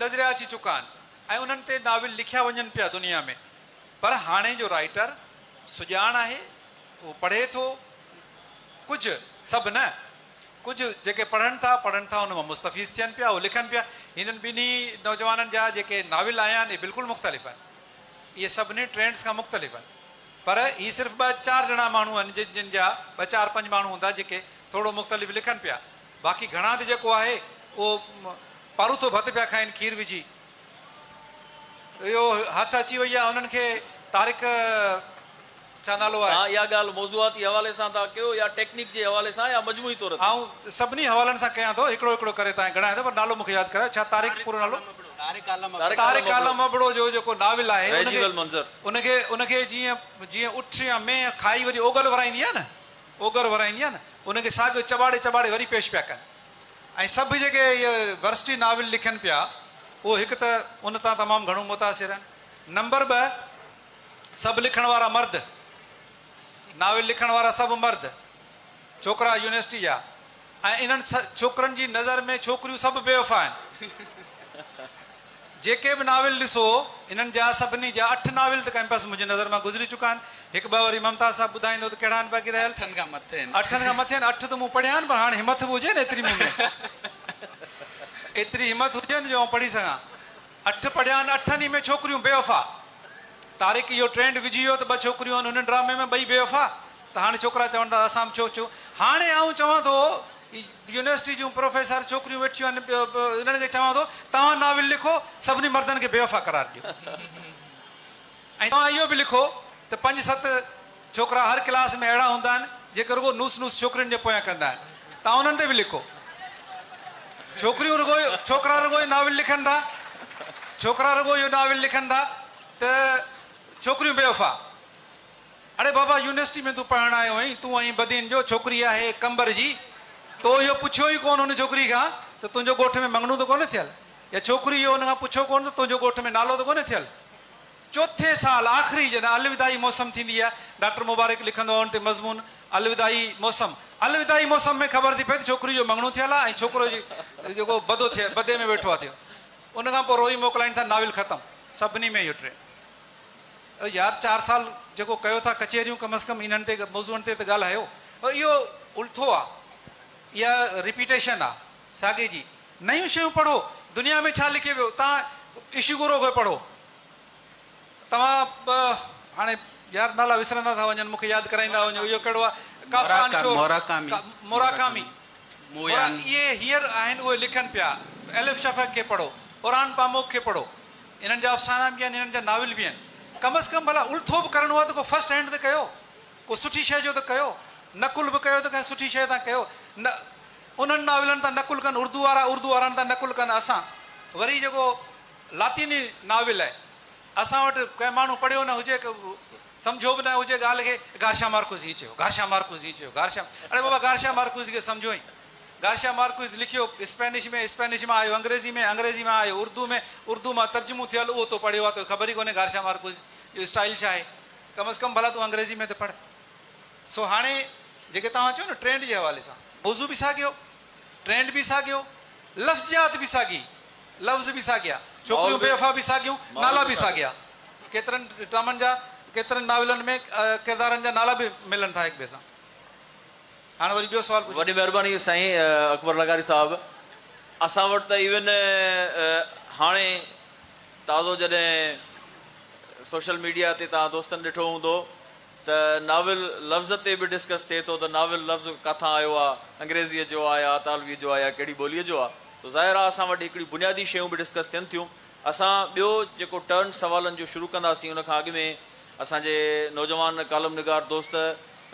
نظريا اچي چڪا آهن ۽ انهن تي ناول لکيا وڃن پيا دنيا ۾ پر هاڻي جو رائيٽر سڄاڻ آهي اهو پڙهي ٿو ڪجهه سڀ نه ڪجهه جيڪي پڙهن ٿا پڙهن ٿا ان مان مستفيض ٿين پيا اهو لکن پيا هنن ٻنهي نوجوانن جا جيڪي ناول آيا آهن اهي بلڪل مختلف آهن اهي سڀني ٽرينڊس کان مختلف آهن پر هي صرف ٻه چار ڄڻا ماڻهو آهن جن جا ٻه چار پنج ماڻهو هوندا جيڪي ٿورو مختلف لکن پيا باقي گهڻا ته جيڪو آهي اهو پاروٿو ڀت پيا کائن کير وجهي اهو هٿ اچي وئي آهي هنن کي طارق ڇا نالو آهي. ها اها ڳالهه موضوعاتي حوالي سان ٿا ڪيو يا ٽيڪنڪ جي حوالي سان يا مجموعي طور تي. آئون سڀني حوالن سان ڪيان ٿو هڪڙو هڪڙو ڪري تانئين گڻايان ٿو پر نالو مونکي ياد ڪرايو ڇا طارق پورو نالو. طارق عالم ابڙو. طارق عالم ابڙو جو جيڪو ناول آهي ان کي ان کي ان کي جيئن جيئن اٺ يا مينهن کائي وري اوڳل ورائيندي آهي نه اوڳر ورائيندي آهي نه ان کي ساڳيو چٻاڙي چٻاڙي وري پيش پيا ڪن ۽ سڀ جيڪي اهي ورسٽي ناول لکن پيا اهو هڪ ته ان تان تمام گهڻو متاثر آهن نمبر ٻه سڀ لکڻ وارا مرد ناول لکڻ وارا سڀ مرد ڇوڪرا يونيورسٽي جا ۽ انهن ڇوڪرن جي نظر ۾ ڇوڪريون سڀ بيوفا آهن جيڪي به ناول ڏسو انهن جا سڀني جا اٺ ناول ته ڪنهن پاسي منهنجي نظر مان گذري چڪا آهن. هڪ ٻه وري ممتاز صاحب ٻڌائيندو ته ڪهڙا آهن باقي رهيل. اٺن کان مٿي آهن. اٺن کان مٿي آهن. اٺ ته مون پڙهيا آهن پر هاڻ همٿ به هجي نه ايتري مون ۾ ايتري همٿ هجي نه جو آئون پڙهي سگهان. اٺ پڙهيا آهن. اٺن ئي ۾ ڇوڪريون بيوفا. طارق اهو ٽرينڊ وجهي ويو ته ٻه ڇوڪريون آهن هن ڊرامي ۾ ٻئي بيوفا ته هاڻي ڇوڪرا چون ٿا ته اسان به ڇو ڇو هاڻي آئون چوان ٿو يونيورسٽي جون پروفيسر ڇوڪريون ويٺيون آهن ٻيو به انهن کي چوان ٿو توهان ناول لکو سڀني مردن کي بيوفا قرار ڏيو ۽ توهان اهو به لکو ته پنج ست ڇوڪرا هر ڪلاس ۾ اهڙا هوندا آهن جيڪي رڳو نوس نوس ڇوڪرين جي پويان ڪندا آهن توهان انهن تي به لکو ڇوڪريون رڳو ڇوڪرا رڳو اهو ناول لکن ٿا ڇوڪرا رڳو اهو ناول لکن ٿا ته ڇوڪريون بيوفا. اڙي بابا يونيورسٽي ۾ تون پڙهڻ آيو هئين، تون ائين بدين جو ڇوڪري آهي قمبر جي، تو اهو پڇيو ئي ڪونه ان ڇوڪري کان ته تنهنجو ڳوٺ ۾ مڱڻو ته ڪونه ٿيل يا ڇوڪري اهو ان کان پڇيو ڪونه ته تنهنجو ڳوٺ ۾ نالو ته ڪونه ٿيل. چوٿين سال آخري جڏهن الوداعي موسم ٿيندي آهي، ڊاڪٽر مبارڪ لکندو آهي ان تي مضمون الوداعي موسم، الوداعي موسم ۾ خبر ٿي پئي ته ڇوڪري جو مڱڻو ٿيل آهي ۽ ڇوڪرو جيڪو بدو ٿئي بدي ۾ ويٺو آهي ٿيو ان کان پوء روئي موڪلائين ٿا ناول ختم سڀني ۾ اهو ٽي. او يار چار سال جيڪو ڪيو ٿا ڪچهريون ڪم از ڪم انهن تي موضوعن تي ته ڳالهايو. اهو الٿو آ. اها رپيٽيشن آ ساڳي جي. نيون شيون پڙهو. دنيا ۾ ڇا لکي ويو. تان اشيگورو کي پڙهو. توهان هاڻي يار نالا وسرندا ٿا وڃن مون کي ياد ڪرائيندا وڃو اهو ڪهڙو آ ڪافڪان شو موراڪامي اهي هيئر آهن اهي لکن پيا. الف شفق کي پڙهو. اورهان پاموڪ کي پڙهو. انهن جا افسانا به آهن انهن جا ناول به آهن ڪم از ڪم ڀلا الٿو به ڪرڻو آهي ته ڪو فرسٽ هينڊ ته ڪيو ڪو سٺي شيء جو ته ڪيو نقل به ڪيو ته ڪنهن سٺي شيء تان ڪيو نه انهن ناولن تان نقل ڪن اردو وارا اردو وارن تان نقل ڪن اسان وري جيڪو لاطيني ناول آهي اسان وٽ ڪنهن ماڻهو پڙهيو نه هجي سمجهيو به نه هجي ڳالهه کي گارشا مارڪوس هيئن چيو گارشا مارڪوس هيئن چيو گارشا اڙي بابا گارشا مارڪوس کي سمجهو ۽ گارشيا مارڪوئز لکيو، اسپينش ۾ اسپينش مان آيو، انگريزي ۾ انگريزي مان آيو، اردو ۾ اردو مان ترجمو ٿيل اهو تو پڙهيو آهي، توکي خبر ئي ڪونهي گارشيا مارڪوئز جو اسٽائيل ڇا آهي، ڪم از ڪم ڀلا تون انگريزي ۾ ته پڙهه. سو هاڻي جيڪي توهان چئو نه ٽرينڊ جي حوالي سان، موضوع به ساڳيو، ٽرينڊ به ساڳيو، لفظيات به ساڳي، لفظ به ساڳيا، ڇوڪريون بي وفا به ساڳيون، نالا به ساڳيا، ڪيترن ڊرامن جا، ڪيترن ناولن ۾ ڪردارن جا نالا به ملن ٿا هڪ ٻئي سان. هاڻ وري ٻيو سوال پڇو. وڏي مهرباني سائين اڪبر لغاري صاحب اسان وٽ ته ايون هاڻي تازو جڏهن سوشل ميڊيا تي توهان دوستن ڏٺو هوندو ته ناول لفظ تي به ڊسڪس ٿئي ٿو ته ناول لفظ ڪاٿان آيو آ انگريزيء جو آ يا اطالوي جو آ يا ڪهڙي ٻوليء جو آ تو ظاهر آ اسان وٽ هڪڙي بنيادي شيون به ڊسڪس ٿين ٿيون اسان ٻيو جيڪو ٽرن سوالن جو شروع ڪنداسين ان کان اڳ ۾ اسان جي نوجوان ڪالم نگار دوست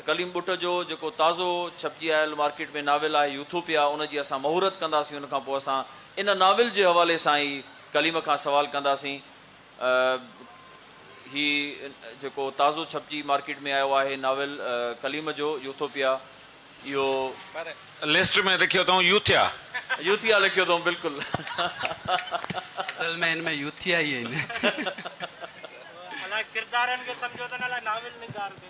ڪليم ٻٽ جو جيڪو تازو ڇپجي آيل مارڪيٽ ۾ ناول آهي يوٿوپيا ان جي اسان مهورت ڪنداسين ان کان پوء اسان ان ناول جي حوالي سان ئي ڪليم کان سوال ڪنداسين هي جيڪو تازو ڇپجي مارڪيٽ ۾ آيو آهي ناول ڪليم جو يوٿوپيا اهو پر لسٽ ۾ لکيو اٿئون يوٿيا. يوٿيا لکيو اٿئون بلڪل. اصل ۾ هن ۾ يوٿيا ئي آهن. الاء ڪردارن کي سمجهو ته نه الاء ناول نگار کي.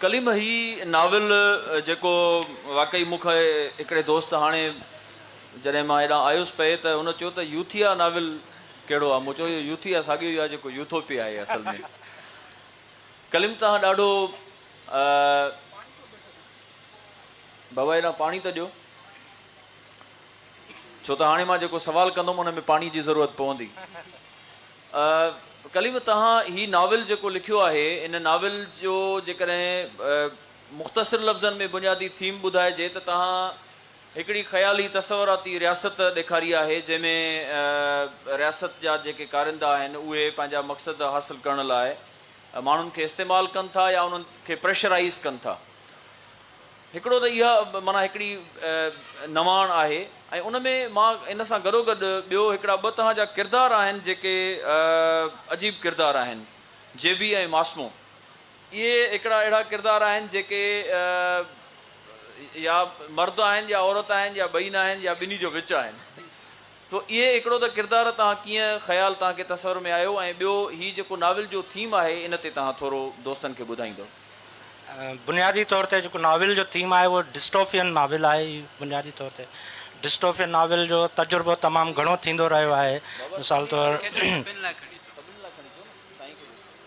ڪليم هي ناول جيڪو واقعي مون کي هڪڙي دوست هاڻي جڏهن مان هيڏانهن آيس پئي ته هن چيو ته يوٿيا ناول ڪهڙو آهي مون چيو اهو يوٿيا ساڳيو ئي آهي جيڪو يوٿوپيا آهي اصل ۾ ڪليم توهان ڏاڍو بابا هيڏانهن پاڻي ته ڏيو ڇو ته هاڻي مان جيڪو سوال ڪندم ان ۾ پاڻي جي ضرورت پوندي ڪليم توهان هي ناول جيڪو لکيو آهي ان ناول جو جيڪڏهن مختصر لفظن ۾ بنيادي ٿيم ٻڌائجي ته توهان هڪڙي خيالي تصوراتي رياست ڏيکاري آهي جنهن ۾ رياست جا جيڪي ڪارندا آهن اهي پنهنجا مقصد حاصل ڪرڻ لاء ماڻهن کي استعمال ڪن ٿا يا انهن کي پريشرائيز ڪن ٿا. هڪڙو ته اها معنيٰ هڪڙي نواڻ آهي ۽ ان ۾ مان ان سان گڏوگڏ ٻيو هڪڙا ٻه تهان جا ڪردار آهن جيڪي عجيب ڪردار آهن، جيبي ۽ ماسمو. اهي هڪڙا اهڙا ڪردار آهن جيڪي يا مرد آهن يا عورت آهن يا ٻئي ناهن يا ٻنهي جو وچ آهن. سو اهي هڪڙو ته ڪردار تان ڪيئن خيال تان کي تصور ۾ آيو ۽ ٻيو هي جيڪو ناول جو ٿيم آهي ان تي تان ٿورو دوستن کي ٻڌائيندؤ. بنيادي طور تي جيڪو ناول جو ٿيم آهي اهو ڊسٽوفين ناول آهي هي بنيادي طور تي ڊسٽوفين ناول جو تجربو تمام گهڻو ٿيندو رهيو آهي مثال طور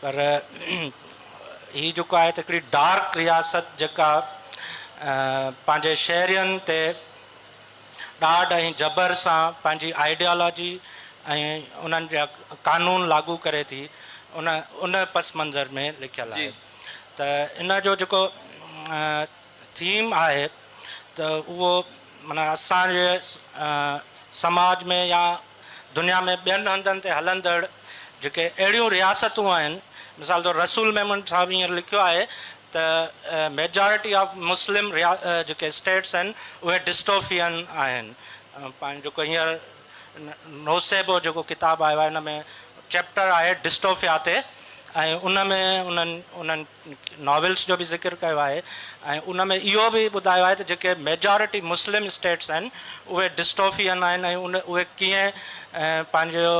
پر هي جيڪو آهي ته هڪڙي ڊارڪ رياست جيڪا پنهنجي شهرين تي ڏاڍ ۽ جبر سان پنهنجي آئيڊيالاجي ۽ انهن جا قانون لاڳو ڪري ٿي ان ان پس منظر ۾ لکيل آهي ته ان جو جيڪو ٿيم آهي ته اهو معنيٰ اسان جي سماج ۾ يا دنيا ۾ ٻين هنڌن تي هلندڙ جيڪي اهڙيون رياستون آهن مثال طور رسول ميمڻ صاحب هينئر لکيو آهي ته ميجارٽي آف مسلم جيڪي اسٽيٽس آهن اهي ڊسٽوفيئن آهن پاڻ جيڪو هينئر نوسيبو جيڪو ڪتاب آيو آهي ان ۾ چيپٽر آهي ڊسٽوفيا تي ۽ ان ۾ انهن انهن ناولس جو به ذڪر ڪيو آهي ۽ ان ۾ اهو به ٻڌايو آهي ته جيڪي ميجارٽي مسلم اسٽيٽس آهن اهي ڊسٽوفيئن آهن ۽ اهي ڪيئن پنهنجو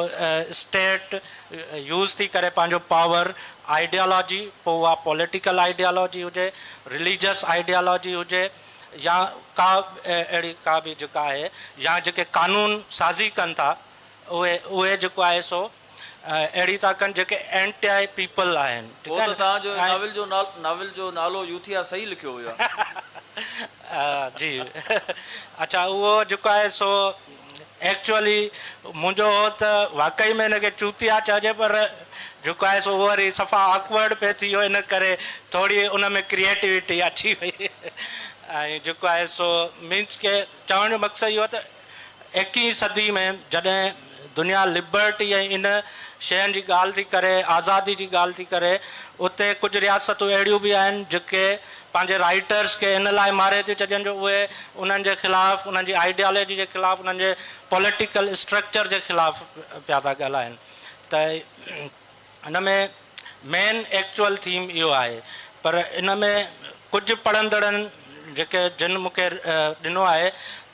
اسٽيٽ يوز ٿي ڪري پنهنجو پاور آئيڊيالاجي پوء اها پوليٽيڪل آئيڊيالاجي هجي رليجس آئيڊيالاجي هجي يا ڪا اهڙي ڪا به جيڪا آهي يا جيڪي قانون سازي ڪن ٿا اهي اهي جيڪو آهي سو اهڙي ٿا ڪن جيڪي اينٽي پيپل آهن. هو ته توهان جو ناول جو ناول جو نالو يوٿيا صحيح لکيو ويو آهي. جي اڇا اهو جيڪو آهي سو ايڪچوئلي منهنجو هو ته واقعي ۾ ان کي چوتيا چئجي پر جيڪو آهي سو اهو وري صفا آڪورڊ پئي ٿي ويو ان ڪري ٿوري ان ۾ ڪريئيٽوٽي اچي وئي ۽ جيڪو آهي سو مينس ڪي چوڻ جو مقصد اهو ته ايڪيهين صدي ۾ جڏهن دنيا لبرٽي ۽ ان شين جي ڳالهه ٿي ڪري، آزادي جي ڳالهه ٿي ڪري، اتي ڪجهه رياستون اهڙيون به آهن جيڪي پنهنجي رائيٽرس کي ان لاء ماري ٿيون ڇڏين جو اهي انهن جي خلاف، انهن جي آئيڊيالوجي جي خلاف، انهن جي پوليٽيڪل اسٽرڪچر جي خلاف پيا ٿا ڳالهائين ته هن ۾ مين ايڪچوئل ٿيم اهو آهي پر ان ۾ ڪجهه پڙهندڙن جيڪي جن مون کي ڏنو آهي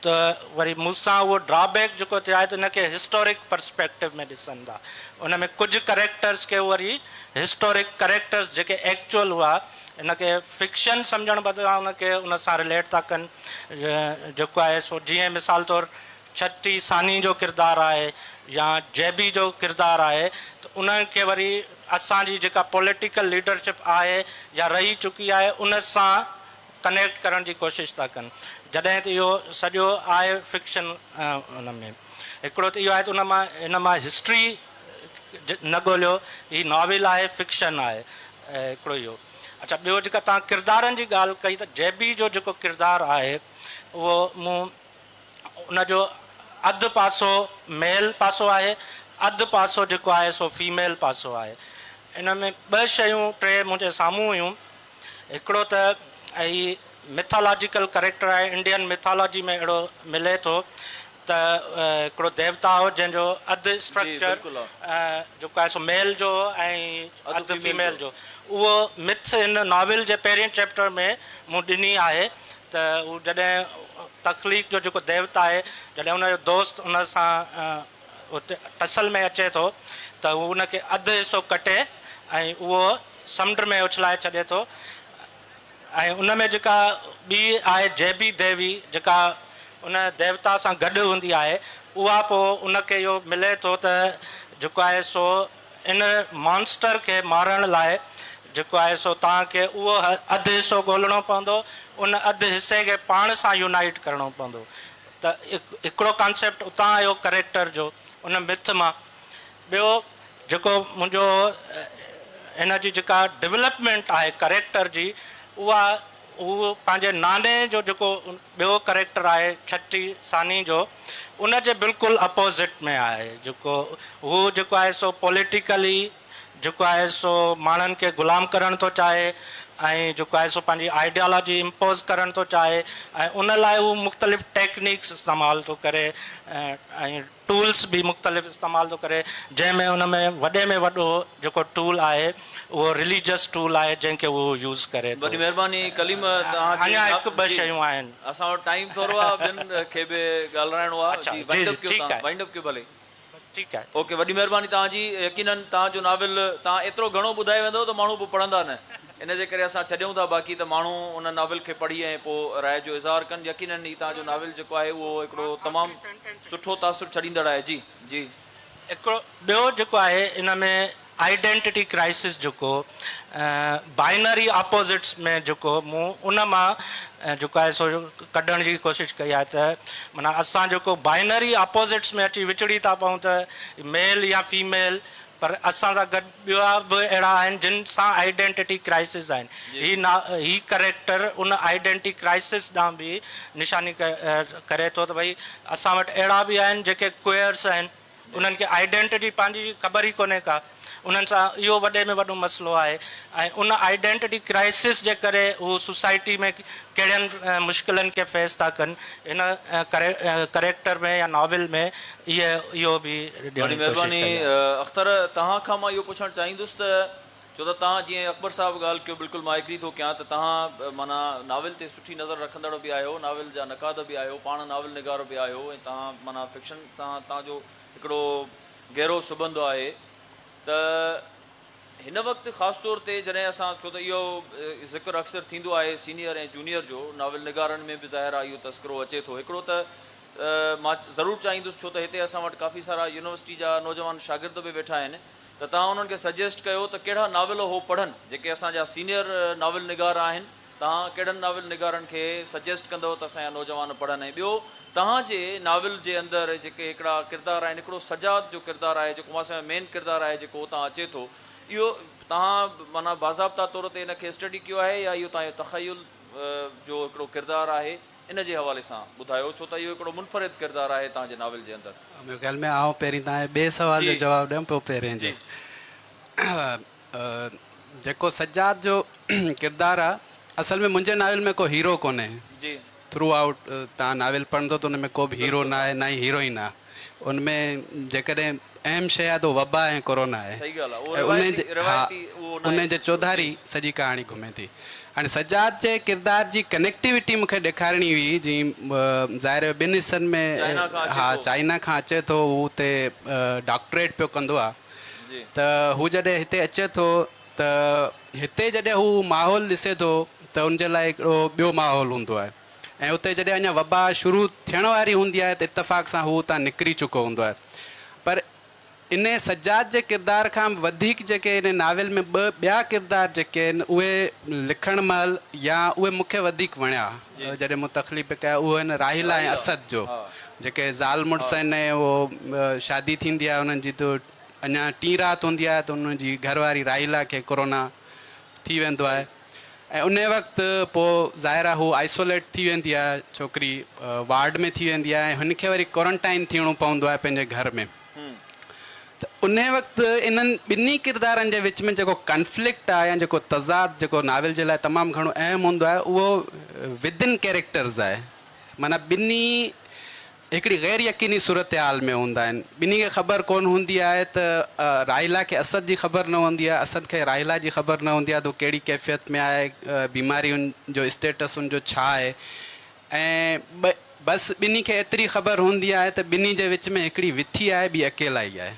ته وري مون سان اهو ڊرا بيڪ جيڪو ٿيو آهي ته ان کي هسٽورڪ پرسپيڪٽو ۾ ڏسن ٿا ان ۾ ڪجهه ڪريڪٽرس کي وري هسٽورڪ ڪريڪٽرس جيڪي ايڪچوئل هئا ان کي فڪشن سمجهڻ بدران ان کي ان سان رليٽ ٿا ڪن جيڪو آهي سو جيئن مثال طور ڇٽي ثاني جو ڪردار آهي يا جيبي جو ڪردار آهي ته ان کي وري اسان جي جيڪا پوليٽيڪل ليڊرشپ آهي يا رهي چڪي آهي ان سان ڪنيڪٽ ڪرڻ جي ڪوشش ٿا ڪن جڏهن ته اهو سڄو آهي فڪشن ان ۾ هڪڙو ته اهو آهي ته ان مان ان مان هسٽري نه ڳوليو هي ناول آهي فڪشن آهي هڪڙو اهو اڇا ٻيو جيڪا تان ڪردارن جي ڳالهه ڪئي ته جيبي جو جيڪو ڪردار آهي اهو مون ان جو اڌ پاسو ميل پاسو آهي اڌ پاسو جيڪو آهي سو فيميل پاسو آهي ان ۾ ٻه شيون ٽي منهنجي سامهون هيون هڪڙو ته هي مٿالاجيڪل ڪريڪٽر آهي انڊين مٿالاجي ۾ اهڙو ملي ٿو ته هڪڙو ديوتا هو جنهن جو اڌ اسٽرڪچر جيڪو آهي سو ميل جو هو ۽ اڌ فيميل جو اهو مٿ هن ناول جي پهرين چيپٽر ۾ مون ڏني آهي ته هو جڏهن تخليق جو جيڪو ديوتا آهي جڏهن ان جو دوست ان سان ٽسل ۾ اچي ٿو ته هو ان کي اڌ حصو ڪٽي ۽ اهو سمنڊ ۾ اڇلائي ڇڏي ٿو ۽ ان ۾ جيڪا ٻي آهي جيبي ديوي جيڪا ان ديوتا سان گڏ هوندي آهي اها پوء ان کي اهو ملي ٿو ته جيڪو آهي سو ان مانسٽر کي مارڻ لاء جيڪو آهي سو توهان کي اهو اڌ حصو ڳولڻو پوندو، ان اڌ حصي کي پاڻ سان يونائيٽ ڪرڻو پوندو ته هڪڙو ڪانسيپٽ اتان آيو ڪريڪٽر جو ان مٿ مان ٻيو جيڪو منهنجو هن جي جيڪا ڊولپمينٽ آهي ڪريڪٽر جي اها هو پنهنجي ناني جو جيڪو ٻيو ڪريڪٽر آهي ڇٽي ثاني جو ان جي بلڪل اپوزٽ ۾ آهي جيڪو هو جيڪو آهي سو پوليٽيڪلي جيڪو آهي سو ماڻهن کي غلام ڪرڻ ٿو چاهي ۽ جيڪو آهي سو پنهنجي آئيڊيالاجي امپوز ڪرڻ ٿو چاهي ۽ ان لاء هو مختلف ٽيڪنڪس استعمال ٿو ڪري ۽ ٽولس به مختلف استعمال ٿو ڪري جنهن ۾ ان ۾ وڏي ۾ وڏو جيڪو ٽول آهي اهو رليجس ٽول آهي جنهن کي اهو يوز ڪري ٿو. وڏي مهرباني ڪليم توهان جي اڃا هڪ ٻه شيون آهن. اسان وٽ ٽائيم ٿورو آ ٻين کي به ڳالرائڻو آ جي وائنڊ اپ ڪيو توهان وائنڊ اپ ڪيو ڀلي ٺيڪ آهي اوڪي وڏي مهرباني توهان جي يقينن توهان جو ناول توهان ايترو گهڻو ٻڌائي ويندؤ ته ماڻهو پوء پڙهندا نه. ان جي ڪري اسان ڇڏيون ٿا باقي ته ماڻهو ان ناول کي پڙهي ۽ پوء راء جو اظهار ڪن يقينن هي توهان جو ناول جيڪو آهي اهو هڪڙو تمام سٺو تاثر ڇڏيندڙ آهي جي جي. هڪڙو ٻيو جيڪو آهي ان ۾ آئيڊينٽيٽي ڪرائسس جيڪو بائنري آپوزٽس ۾ جيڪو مون ان مان جيڪو آهي سو ڪڍڻ جي ڪوشش ڪئي آهي ته معنيٰ اسان جيڪو بائنري آپوزٽس ۾ اچي وچڙي ٿا پئون ته ميل يا فيميل پر اسان سان گڏ ٻيا به اهڙا آهن جن سان آئيڊينٽيٽي ڪرائسز آهن. هي نا هي ڪريڪٽر ان آئيڊينٽي ڪرائسز ڏانهن به نشاني ڪري ٿو ته ڀئي اسان وٽ اهڙا به آهن جيڪي ڪوئرس آهن انهن کي آئيڊينٽيٽي پنهنجي جي خبر ئي ڪونهي ڪا انهن سان اهو وڏي ۾ وڏو مسئلو آهي ۽ ان آئيڊينٽيٽي ڪرائسز جي ڪري هو سوسائٽي ۾ ڪهڙين مشڪلن کي فيس ٿا ڪن هن ڪريڪٽر ۾ يا ناول ۾ اهي اهو به ڏيڻ جي ڪوشش ڪئي آهي. وڏي مهرباني اختر توهان کان مان اهو پڇڻ چاهيندس ته ڇو ته توهان جيئن اڪبر صاحب ڳالهه ڪيو بلڪل مان ايگري ٿو ڪيان ته توهان معنيٰ ناول تي سٺي نظر رکندڙ به آهيو ناول جا نقاد به آهيو پاڻ ناول نگار به آهيو ۽ توهان معنيٰ فڪشن سان توهان جو هڪڙو گهرو سٻنڌ آهي ته هن وقت خاص طور تي جڏهن اسان ڇو ته اهو ذڪر اڪثر ٿيندو آهي سينيئر ۽ جونيئر جو ناول نگارن ۾ به ظاهر آهي اهو تذڪرو اچي ٿو هڪڙو ته مان ضرور چاهيندس ڇو ته هتي اسان وٽ ڪافي سارا يونيورسٽي جا نوجوان شاگرد به ويٺا آهن ته توهان انهن کي سجيسٽ ڪيو ته ڪهڙا ناول هو پڙهن جيڪي اسان جا سينيئر ناول نگار آهن توهان ڪهڙن ناول نگارن کي سجيسٽ ڪندؤ ته اسان جا نوجوان پڙهن ۽ ٻيو توهان جي ناول جي اندر جيڪي هڪڙا ڪردار آهن هڪڙو سجاد جو ڪردار آهي جيڪو اسان جو مين ڪردار آهي جيڪو اتان اچي ٿو اهو توهان معنيٰ باضابطا طور تي ان کي اسٽڊي ڪيو آهي يا اهو توهان جو تخيل جو هڪڙو ڪردار آهي ان جي حوالي سان ٻڌايو ڇو ته اهو هڪڙو منفرد ڪردار آهي توهان جي ناول جي اندر. مون خيال ۾ آئون پهرين توهان جي ٻئي سوال جو جواب ڏيان پوء پهرين جو. جيڪو سجاد جو ڪردار آهي اصل ۾ منهنجي ناول ۾ ڪو هيرو ڪونهي. ٿرو آئوٽ توهان ناول پڙهندو ته ان ۾ ڪو به هيرو ناهي نه ئي هيروئن آهي. ان ۾ جيڪڏهن اهم شيء آهي ته وبا ۽ ڪورونا آهي ۽ ان جي چوڌاري سڄي ڪهاڻي گهمي ٿي. هاڻي سجاد جي ڪردار جي ڪنيڪٽيوٽي مون کي ڏيکارڻي هئي جي ظاهر هو ٻن حصن ۾ ها چائنا کان اچي ٿو هو اتي ڊاڪٽريٽ پيو ڪندو آهي ته هو جڏهن هتي اچي ٿو ته هتي جڏهن هو ماحول ڏسي ٿو ته ان جي لاء هڪڙو ٻيو ماحول هوندو آهي. ۽ اتي جڏهن اڃا وبا شروع ٿيڻ واري هوندي آهي ته اتفاق سان هو اتان نڪري چڪو هوندو آهي پر ان سجاد جي ڪردار کان به وڌيڪ جيڪي ان ناول ۾ ٻه ٻيا ڪردار جيڪي آهن اهي لکڻ مهل يا اهي مون کي وڌيڪ وڻيا جڏهن مون تخليق به ڪيا اهو آهن راحيلا ۽ اسد جو جيڪي زال مڙس آهن ۽ اهو شادي ٿيندي آهي انهن جي ته اڃا ٽين رات هوندي آهي ته انهن جي گهر واري راحيلا کي ڪورونا ٿي ويندو آهي ۽ انهي وقت پوء ظاهر آ هو آئسوليٽ ٿي ويندي آ ڇوڪري وارڊ ۾ ٿي ويندي آ ۽ هن کي وري ڪورنٽائن ٿيڻو پوندو آ پنهنجي گهر ۾ ته انهي وقت انهن ٻنهي ڪردارن جي وچ ۾ جيڪو ڪنفلڪٽ آ يا جيڪو تضاد جيڪو ناول جي لاء تمام گهڻو اهم هوندو آ اهو ودن ڪيريڪٽرز آ معنيٰ ٻنهي هڪڙي غير يقيني صورتحال ۾ هوندا آهن. ٻنهي کي خبر ڪونه هوندي آهي ته راحيلا کي اسد جي خبر نه هوندي آهي، اسد کي راحيلا جي خبر نه هوندي آهي ته هو ڪهڙي ڪيفيت ۾ آهي، بيماري ان جو اسٽيٽس ان جو ڇا آهي ۽ بس ٻنهي کي ايتري خبر هوندي آهي ته ٻنهي جي وچ ۾ هڪڙي وٿي آهي ٻي اڪيلائي آهي.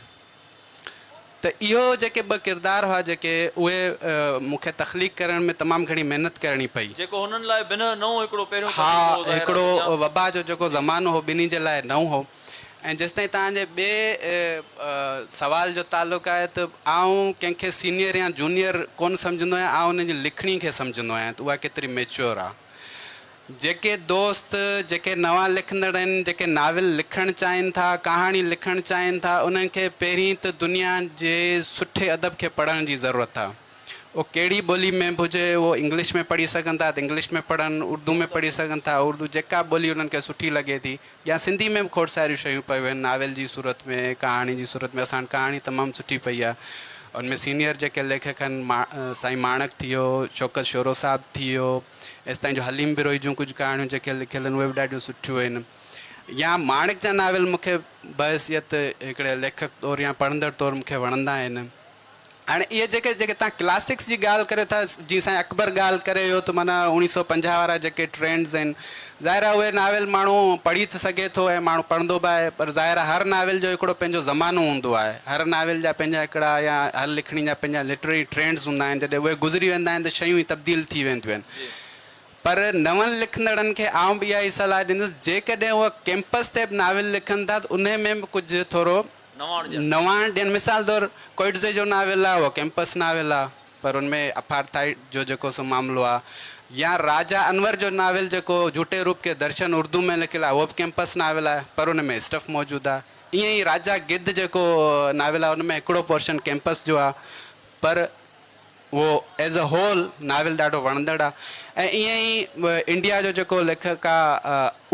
ته اهو جيڪي ٻه ڪردار هئا جيڪي اهي مون کي تخليق ڪرڻ ۾ تمام گهڻي محنت ڪرڻي پئي. جيڪو هنن لاء بنهه نئون هڪڙو پهريون ها تجربو هو ظاهر آ هڪڙو دنيا. وبا جو جيڪو زمانو هو ٻنهي جي لاء نئون هو ۽ جيستائين توهان جي ٻئي سوال جو تعلق آهي ته آئون ڪنهن کي سينيئر يا جونيئر ڪونه سمجهندو آهيان آئون انهن جي لکڻي کي سمجهندو آهيان ته اها ڪيتري ميچيور آ. جيڪي دوست، جيڪي نوان لکندڙ آهن، جيڪي ناول لکڻ چاهين ٿا، ڪهاڻي لکڻ چاهين ٿا، انهن کي پهرين ته دنيا جي سٺي ادب کي پڙهڻ جي ضرورت آهي. اهو ڪهڙي ٻولي ۾ به هجي، اهو انگلش ۾ پڙهي سگهن ٿا ته انگلش ۾ پڙهن، اردو ۾ پڙهي سگهن ٿا، اردو، جيڪا ٻولي انهن کي سٺي لڳي ٿي يا سنڌي ۾ به کوڙ ساريون شيون پيون آهن ناول جي صورت ۾، ڪهاڻي جي صورت ۾، اسان وٽ ڪهاڻي تمام سٺي پئي آهي. ان ۾ سينيئر جيڪي ليکڪ آهن، سائين ماڻڪ ٿي ويو، شوڪت شورو صاحب ٿي ويو، ايستائين جو حليم بروهي جون ڪجهه ڪهاڻيون جيڪي لکيل آهن، اهي به ڏاڍيون سٺيون آهن. يا ماڻڪ جا ناول مون کي بحيثيت هڪڙي ليکڪ طور يا پڙهندڙ طور مون کي وڻندا آهن. هاڻي اهي جيڪي جيڪي توهان ڪلاسڪس جي ڳالهه ڪريو ٿا، جيئن سائين اڪبر ڳالهه ڪري ويو ته معنيٰ اوڻيهه سؤ پنجاهه وارا جيڪي ٽرينڊز آهن، ظاهر آهي اهي ناول ماڻهو پڙهي ته سگهي ٿو ۽ ماڻهو پڙهندو به آهي پر ظاهر آهي هر ناول جو هڪڙو پنهنجو زمانو هوندو آهي. هر ناول جا پنهنجا هڪڙا يا هر لکڻي جا پنهنجا لٽرري ٽرينڊز هوندا آهن جڏهن اهي گذري ويندا آهن ته شيون ئي تبديل ٿي وينديون آهن پر نون لکندڙن کي آئون به اها ئي صلاح ڏيندس جيڪڏهن اهي ڪيمپس تي به ناول لکن ٿا ته انهي ۾ به ڪجهه ٿورو نواڻ ڏين مثال طور ڪوئٽزي جو ناول آهي اهو ڪيمپس ناول آهي. پر ان ۾ اپارٿائيڊ جو جيڪو سو معاملو آ يا راجا انور جو ناول جيڪو جھوٽي روپ ڪي درشن اردو ۾ لکيل آ اھو به ڪيمپس ناول آ پر ان ۾ اسٽف موجود آ ائين ئي راجا گدھ جيڪو ناول آ ان ۾ ھڪڙو پورشن ڪيمپس جو آ پر اھو ايز اي ھول ناول ڏاڍو وڻندڙ آ ۽ ائين ئي انڊيا جو جيڪو ليکڪ آ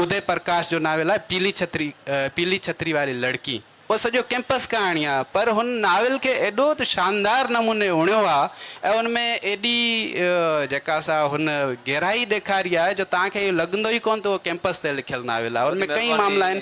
ادي پرڪاش جو ناول آ پيلي ڇتري پيلي ڇتري واري لڙڪي اهو سڄو ڪئمپس ڪهاڻي آ پر هن ناول کي ايڏو ته شاندار نموني اڻيو آ ۽ ان ۾ ايڏي جيڪا سا هن گهرائي ڏيکاري آ جو توهان کي اهو لڳندو ئي ڪونه ته اهو ڪئمپس تي لکيل ناول آ ان ۾ ڪئين معاملا آهن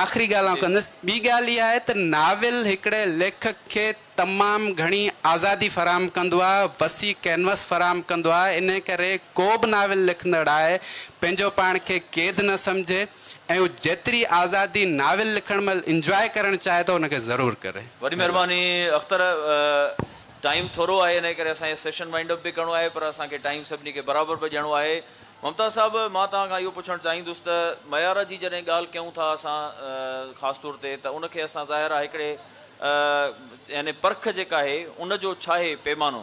آخري ڳالهه آئون ڪندس ٻي ڳالهه اها آهي ته ناول هڪڙي ليکڪ کي تمام گهڻي آزادي فراهم ڪندو آهي، وسيع ڪينوس فراهم ڪندو آهي، انهيء ڪري ڪو به ناول لکندڙ آء پنهنجو پاڻ کي قيد نه سمجهي ۽ هو جيتري آزادي ناول لکڻ مهل انجواء ڪرڻ چاهي ٿو ان کي ضرور ڪري. وڏي مهرباني اختر. ٽائيم ٿورو آهي انهيء ڪري اسان کي سيشن وائنڊ اپ به ڪرڻو آهي پر اسان کي ٽائيم سڀني کي برابر به ڏيڻو آهي. ممتاز صاحب مان توهان کان اهو پڇڻ چاهيندس ته معيار جي جڏهن ڳالهه ڪيون ٿا اسان خاص طور تي ته ان کي اسان ظاهر آهي هڪڙي يعني پرک جيڪا آهي ان جو ڇاهي پيمانو؟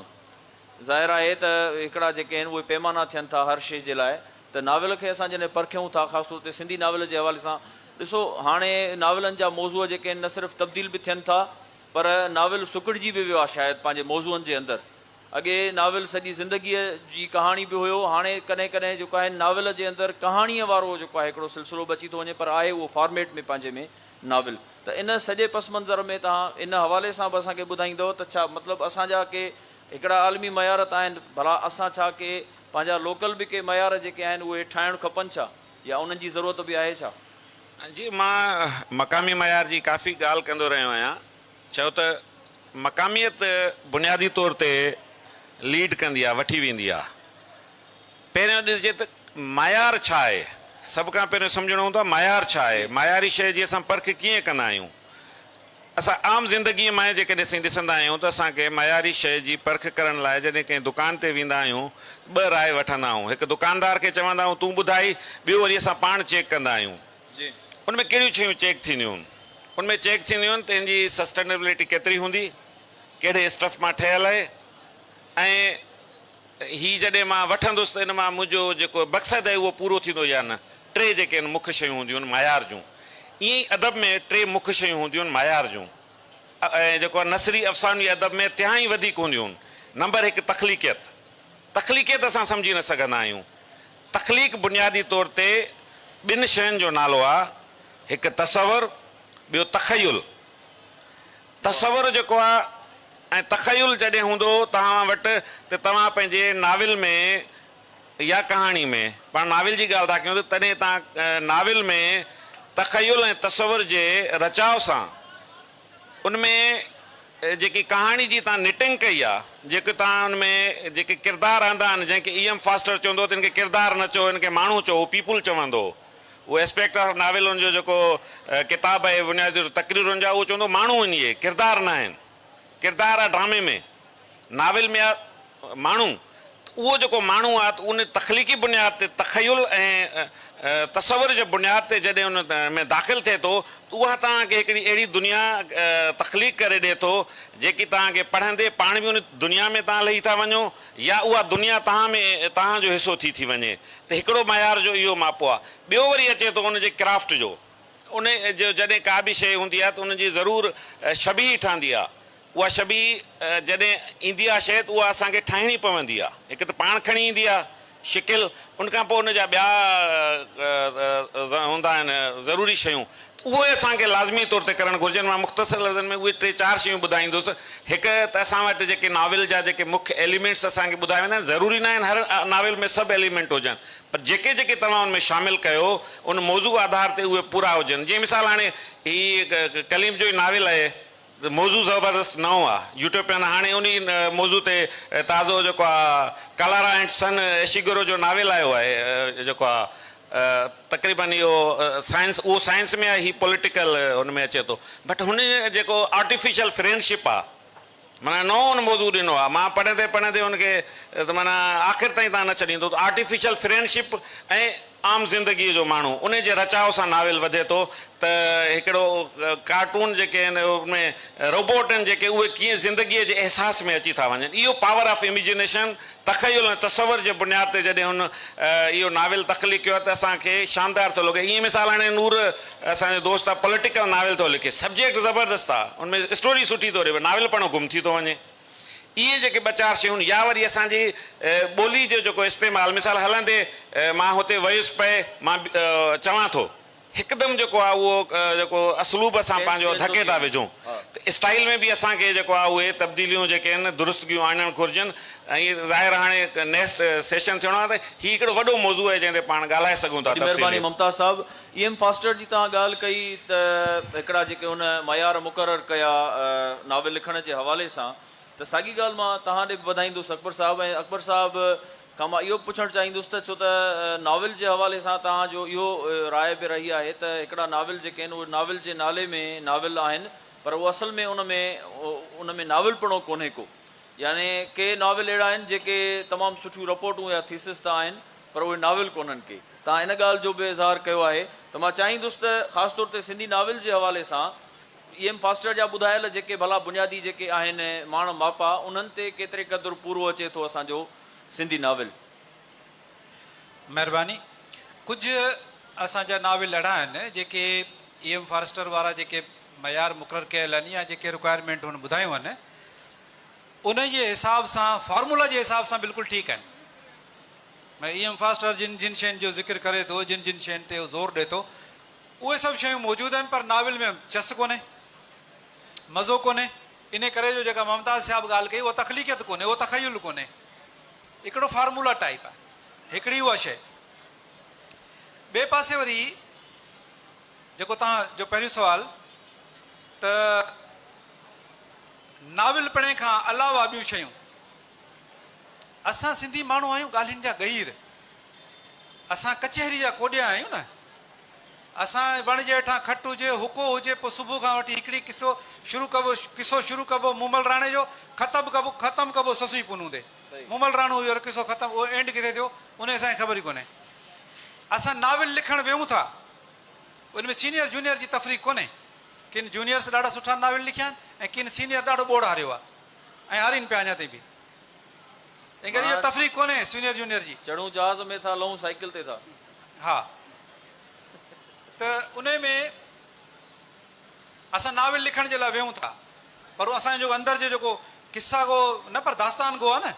ظاهر آهي ته هڪڙا جيڪي آهن اهي پيمانا ٿين ٿا هر شي جي لاء ته ناول کي اسان جڏهن پرکيون ٿا خاص طور تي سنڌي ناول جي حوالي سان ڏسو هاڻي ناولن جا موضوع جيڪي آهن نه صرف تبديل به ٿين ٿا پر ناول سڪڙجي به ويو آهي شايد پنهنجي موضوعن جي اندر اڳي ناول سڄي زندگيء جي ڪهاڻي به هيو هاڻي ڪڏهن ڪڏهن جيڪو آهن ناول جي اندر ڪهاڻيء وارو جيڪو آهي هڪڙو سلسلو به اچي ٿو وڃي پر آهي اهو فارميٽ ۾ پنهنجي ۾ ناول ته ان سڄي پس منظر ۾ توهان ان حوالي سان به اسان کي ٻڌائيندؤ ته ڇا مطلب اسان جا ڪي هڪڙا عالمي معيار ته آهن ڀلا اسان ڇا ڪي پنهنجا لوڪل به ڪي معيار جيڪي آهن اهي ٺاهڻ کپن ڇا يا انهن جي ضرورت به آهي ڇا؟ جي مان مقامي معيار جي ڪافي ڳالهه ڪندو رهيو آهيان ڇو ته مقاميت بنيادي طور تي ليڊ ڪندي آهي وٺي ويندي آهي. پهريان ڏسجي ته معيار ڇا آهي؟ سڀ کان پهريون سمجهڻو هوندو آهي معيار ڇا آهي؟ معياري شيء جي اسان پرک ڪيئن ڪندا آهيون؟ اسان عام زندگيء مئن جيڪڏهن سائين ڏسندا آهيون ته اسان کي معياري شيء جي پرک ڪرڻ لاء جڏهن ڪنهن دڪان تي ويندا آهيون ٻه راء وٺندا آهون هڪ دڪاندار کي چوندا آهيون تون ٻڌائي ٻيو وري اسان پاڻ چيڪ ڪندا آهيون ان ۾ ڪهڙيون شيون چيڪ ٿينديون ان ۾ چيڪ ٿينديون آهن ته ان جي سسٽينبلٽي ڪيتري هوندي ڪهڙي اسٽف مان ٺهيل آهي ۽ هي جڏهن مان وٺندس ته ان مان منهنجو جيڪو مقصد آهي اهو پورو ٿيندو يا نه. ٽي جيڪي آهن مک شيون هونديون آهن معيار جون. ائين ئي ادب ۾ ٽي مک شيون هونديون آهن معيار جون. ۽ جيڪو آهي نثري افسانوي ادب ۾ تهائين وڌيڪ هونديون آهن. نمبر هڪ تخليقيت. تخليقيت اسان سمجهي نه سگهندا آهيون. تخليق بنيادي طور تي ٻن شين جو نالو آهي. هڪ تصور ٻيو تخيل. تصور جيڪو آ ۽ تخيل جڏهن هوندو توهان وٽ ته توهان پنهنجي ناول ۾ يا ڪهاڻي ۾ پاڻ ناول جي ڳالهه ٿا ڪيون ته تڏهن توهان ناول ۾ تخيل ۽ تصور جي رچاء سان ان ۾ جيڪي ڪهاڻي جي توهان نٽنگ ڪئي آ جيڪي توهان ان ۾ جيڪي ڪردار آندا آهن جنهن کي اي ايم فاسٽر چوندو هو ته هن کي ڪردار نه چئو هن کي ماڻهو چئو People چوندو هو. اهو اسپيڪٽ آف ناولن جو جيڪو ڪتاب آهي بنيادي طور تقريرن جا اهو چوندو ماڻهو آهن اهي ڪردار نه آهن ڪردار آهي ڊرامي ۾ ناول ۾ آهي ماڻهو ته اهو جيڪو ماڻهو آهي ته ان تخليقي بنياد تي تخيل ۽ تصور جي بنياد تي جڏهن ان ۾ داخل ٿئي ٿو ته اها توهان کي هڪڙي اهڙي دنيا تخليق ڪري ڏئي ٿو جيڪي توهان کي پڙهندي پاڻ به ان دنيا ۾ توهان لهي ٿا وڃو يا اها دنيا توهان ۾ توهان جو حصو ٿي ٿي وڃي ته هڪڙو معيار جو اهو ماپو آهي. ٻيو وري اچي ٿو ان جي ڪرافٽ جو. ان جو جڏهن ڪا به شيء هوندي آهي ته ان جي ضرور شبيهه ٺهندي آهي. اها شبيهه جڏهن ايندي آهي شيء ته اها اسان کي ٺاهڻي پوندي آهي. هڪ ته پاڻ کڻي ايندي آهي شڪل، ان کان پوء ان جا ٻيا هوندا آهن ضروري شيون اهي اسان کي لازمي طور تي ڪرڻ گهرجن. مان مختصر لفظن ۾ اهي ٽي چار شيون ٻڌائيندس. هڪ ته اسان وٽ جيڪي ناول جا جيڪي مک ايليمينٽس اسان کي ٻڌايا ويندا آهن، ضروري ناهن هر ناول ۾ سڀ ايليمينٽ هجن، پر جيڪي جيڪي توهان ان ۾ شامل ڪيو، ان موضوع آڌار تي اهي پورا هجن. جيئن مثال هاڻي هي ڪليم جو ئي ناول آهي. موضوع زبردست نئون آ يوٽوپيان هاڻي انهي موضوع تي تازو جيڪو آ ڪلارا اينڊ سن اشيگورو جو ناول آيو آهي جيڪو آ تقريبن اهو سائنس اهو سائنس ۾ آ هي پوليٽيڪل ان ۾ اچي ٿو بٽ هن جيڪو آرٽيفيشل فرينڊشپ آ معنيٰ نئون ان موضوع ڏنو آ مان پڙهندي پڙهندي ان کي ته معنيٰ آخر تائين تان نه ڇڏيندو ته آرٽيفيشل فرينڊشپ ۽ عام زندگيء جو ماڻهو انهي جي رچاء سان ناول وڌي ٿو ته هڪڙو ڪارٽون جيڪي آهن ان ۾ روبوٽ آهن جيڪي اهي ڪيئن زندگيء جي احساس ۾ اچي ٿا وڃن اهو پاور آف اميجنيشن تخيل ۽ تصور جي بنياد تي جڏهن هن اهو ناول تخليق ڪيو آهي ته اسان کي شاندار ٿو لڳي ائين مثال هاڻي نور اسان جو دوست آهي پوليٽيڪل ناول ٿو لکي سبجيڪٽ زبردست آهي ان ۾ اسٽوري سٺي ٿو رهي پر ناول پڙهڻ گم ٿي ٿو وڃي. اهي جيڪي ٻه چار شيون يا وري اسان جي ٻولي جو جيڪو استعمال مثال هلندي مان هتي ويس پئي مان چوان ٿو هڪدم جيڪو آهي اهو جيڪو اسلوب اسان پنهنجو ڌڪي ٿا وجهون ته اسٽائيل ۾ به اسان کي جيڪو آهي اهي تبديليون جيڪي آهن درستگيون آڻڻ گهرجن ۽ ظاهر هاڻي نيڪسٽ سيشن ٿيڻو آهي ته هي هڪڙو وڏو موضوع آهي جنهن تي پاڻ ڳالهائي سگهون ٿا تفصيلي. اي ايم فاسٽر جي توهان ڳالهه ڪئي ته هڪڙا جيڪي هن معيار مقرر ڪيا ناول لکڻ جي حوالي سان ته ساڳي ڳالهه مان توهان ڏي به وڌائيندس اڪبر صاحب ۽ اڪبر صاحب کان مان اهو به پڇڻ چاهيندس ته ڇو ته ناول جي حوالي سان توهان جو اهو راء به رهي آهي ته هڪڙا ناول جيڪي آهن اهي ناول جي نالي ۾ ناول آهن پر اهو اصل ۾ ان ۾ ان ۾ ناولپڻو ڪونهي ڪو يعني ڪي ناول اهڙا آهن جيڪي تمام سٺيون رپورٽون يا ٿيسز ته آهن پر اهي ناول ڪونهن ڪي. توهان ان ڳالهه جو به اظهار ڪيو آهي ته مان چاهيندس ته خاص طور تي سنڌي ناول جي حوالي سان اي ايم فاسٽر جا ٻڌايل جيڪي ڀلا بنيادي جيڪي آهن ماڻ ماپا انهن تي ڪيتري قدر پورو اچي ٿو اسان جو سنڌي ناول. مهرباني. ڪجهه اسان جا ناول اهڙا آهن جيڪي اي ايم فارسٽر وارا جيڪي معيار مقرر ڪيل آهن يا جيڪي رڪوائرمينٽون هن ٻڌايون آهن انهن جي حساب سان فارمولا جي حساب سان بلڪل ٺيڪ آهن ۾ اي ايم فاسٽر جن جن شين جو ذڪر ڪري ٿو جن جن شين تي هو زور ڏي ٿو اهي سڀ شيون موجود آهن پر ناول ۾ چس ڪونهي مزو ڪونهي انهي ڪري جو جيڪا ممتاز صاحب ڳالهه ڪئي اها تخليقيت ڪونهي اهو تخيل ڪونهي هڪڙو فارمولا ٽائيپ آهي هڪڙي اها شي ٻئي پاسي وري جيڪو توهان جو پهريون سوال ته ناول پڙهڻ کان علاوه ٻيون شيون اسان سنڌي ماڻهو آهيون ڳالهين جا ڳهير. اسان ڪچهري جا ڪوڏيا آهيون نه. اسان جي وڻ جي هيٺان کٽ هجي، هوڪو هجي، پوء صبح کان وٺي هڪڙي قصو شروع ڪبو، قصو شروع ڪبو مومل راڻي جو، ختم ڪبو، ختم ڪبو سسئي پونو تي. مومل راڻو هجي ته قصو ختم، اهو اينڊ ڪٿي ٿيو، ان جي اسان کي خبر ئي ڪونهي. اسان ناول لکڻ ويهون ٿا، ان ۾ سينيئر جونيئر جي تفريق ڪونهي. ڪن جونيئرس ڏاڍا سٺا ناول لکيا آهن ۽ ڪن سينيئر ڏاڍو ٻوڙ هاريو آهي. ۽ هارين پيا اڃا تائين به. تنهن ڪري اهو تفريق ڪونهي سينئر جونئر جي. چڙهون جهاز ۾ ٿا لهون سائيڪل تي ٿا. ها ته انهي ۾ اسان ناول لکڻ جي لاء ويهون ٿا پر اسان جو اندر جو جيڪو قصه گو نه پر داستان گو آهي نه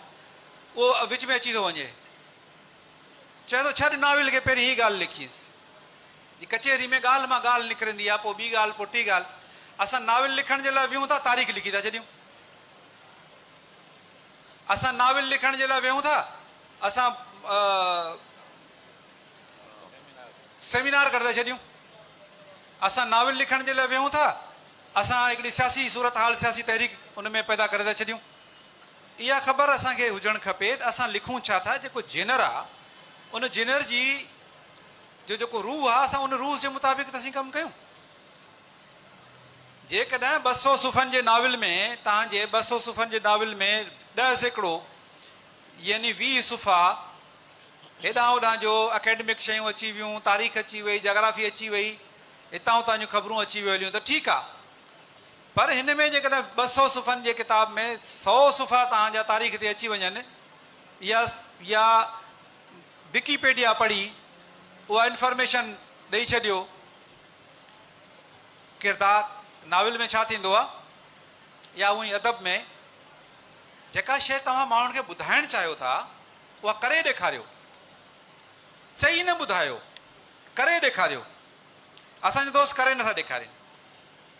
اهو وچ ۾ اچي ٿو وڃي. چوي ٿو ڇڏ ناول کي پهرين هي ڳالهه لکيس. جي ڪچهري ۾ ڳالهه مان ڳالهه نڪرندي آ، پوء ٻي ڳالهه، پوء ٽي ڳالهه. اسان ناول لکڻ جي لاء ويهون ٿا، تاريخ لکي ٿا ڇڏيون. اسان ناول لکڻ جي لاء ويهون ٿا، اسان سيمينار ڪري ٿا ڇڏيون. اسان ناول لکڻ جي لاء ويهون ٿا، اسان هڪڙي سياسي صورتحال، سياسي تحريڪ ان ۾ پيدا ڪري ٿا ڇڏيون. اها خبر اسان کي هجڻ کپي ته اسان لکون ڇا ٿا، جيڪو جينر آ ان جينر جي جو جيڪو روح آ اسان ان روح جي مطابق ته سھي ڪم ڪيون. جيڪڏهن ٻه سؤ صفحن جي ناول ۾ توهان جي ٻه سؤ صفحن جي ناول ۾ ڏهه سيڪڙو يعني ويهه صفحا هيڏانهن هوڏانهن جو اڪيڊمڪ شيون اچي ويون، تاريخ اچي وئي، جاگرافي اچي وئي، هتان هتان جون خبرون اچي ويو هليون ته ٺيڪ آ. پر هن ۾ جيڪڏهن ٻه سؤ صفحن جي ڪتاب ۾ سؤ صفحا توهان جا تاريخ تي اچي وڃن يا يا وڪيپيڊيا پڙهي اها انفارميشن ڏئي ڇڏيو ڪردار ناول ۾ ڇا ٿيندو آهي يا اونئي ادب ۾ جيڪا شيء توهان ماڻهن کي ٻڌائڻ چاهيو ٿا اها ڪري ڏيکاريو چئي نه ٻڌايو ڪري ڏيکاريو اسان جا دوست ڪري نٿا ڏيکارين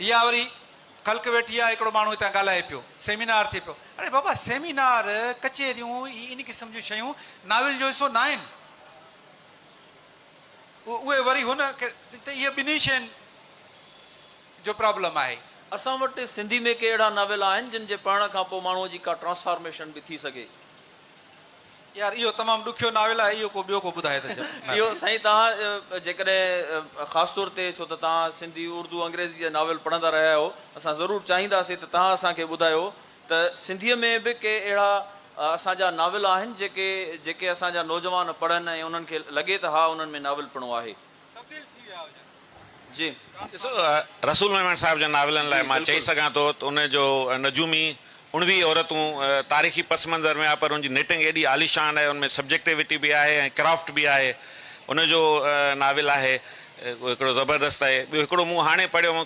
اها وري خلق ويٺي آهي، هڪڙو ماڻهو هتان ڳالهائي پيو، سيمينار ٿئي پيو. اڙي بابا سيمينار، ڪچهريون هي ان قسم جون شيون ناول جو حصو ناهن. اهي وري هن کي ته اهي ٻنهي شين جو پرابلم آهي. اسان وٽ سنڌي ۾ ڪي اهڙا ناول آهن جن جي پڙهڻ کان پوء ماڻهوء جي ڪا ٽرانسفارميشن به ٿي سگهي. يار اهو تمام ڏکيو ناول آهي اهو ڪو ٻيو ڪو ٻڌائي ته جا نه اهو سائين توهان جيڪڏهن خاص طور تي ڇو ته توهان سنڌي اردو انگريزي جا ناول پڙهندا رهيا آهيو اسان ضرور چاهينداسين ته توهان اسان کي ٻڌايو ته سنڌي ۾ به ڪي اهڙا اسان جا ناول آهن جيڪي جيڪي اسان جا نوجوان پڙهن ۽ انهن کي لڳي ته ها انهن ۾ ناولپڻو آهي. تبديل ٿي ويا هجن. ڏسو رسول ميمڻ صاحب جن ناولن لاء مان چئي سگهان ٿو ته ان جو نجومي اڻويهه عورتون تاريخي پس منظر ۾ آهي پر ان جي نٽنگ ايڏي عاليشان آهي ان ۾ سبجيڪٽيوٽي به آهي ۽ ڪرافٽ به آهي ان جو ناول آهي اهو هڪڙو زبردست آهي ٻيو هڪڙو مون هاڻي پڙهيو هو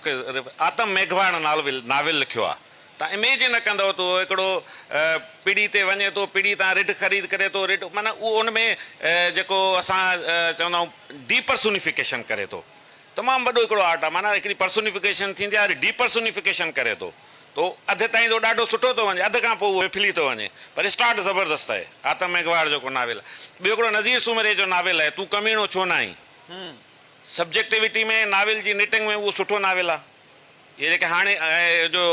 آتم ميگهواڙ ناول لکيو آهي. تان اميجن نه ڪندؤ ته اهو هڪڙو پڙي تي وڃي ٿو پڙي تان رڍ خريد ڪري ٿو رڍ معنيٰ اهو ان ۾ جيڪو اسان چوندا آهيون ڊيپرسونيفڪيشن ڪري ٿو تمام وڏو هڪڙو آرٽ آهي معنيٰ هڪڙي پرسونيفڪيشن ٿيندي آهي وري ڊيپرسونيفڪيشن ڪري ٿو ته اهو اڌ تائين ته ڏاڍو سٺو ٿو وڃي اڌ کان پوء اهو ڦلي ٿو وڃي پر اسٽارٽ زبردست آهي آتم ميگهواڙ جيڪو ناول آهي ٻيو هڪڙو نذير سومري جو ناول آهي تون ڪميڻو ڇو نه آهين سبجيڪٽيوٽي ۾ ناول جي نٽنگ ۾ اهو سٺو ناول آهي. هي جيڪي هاڻي جو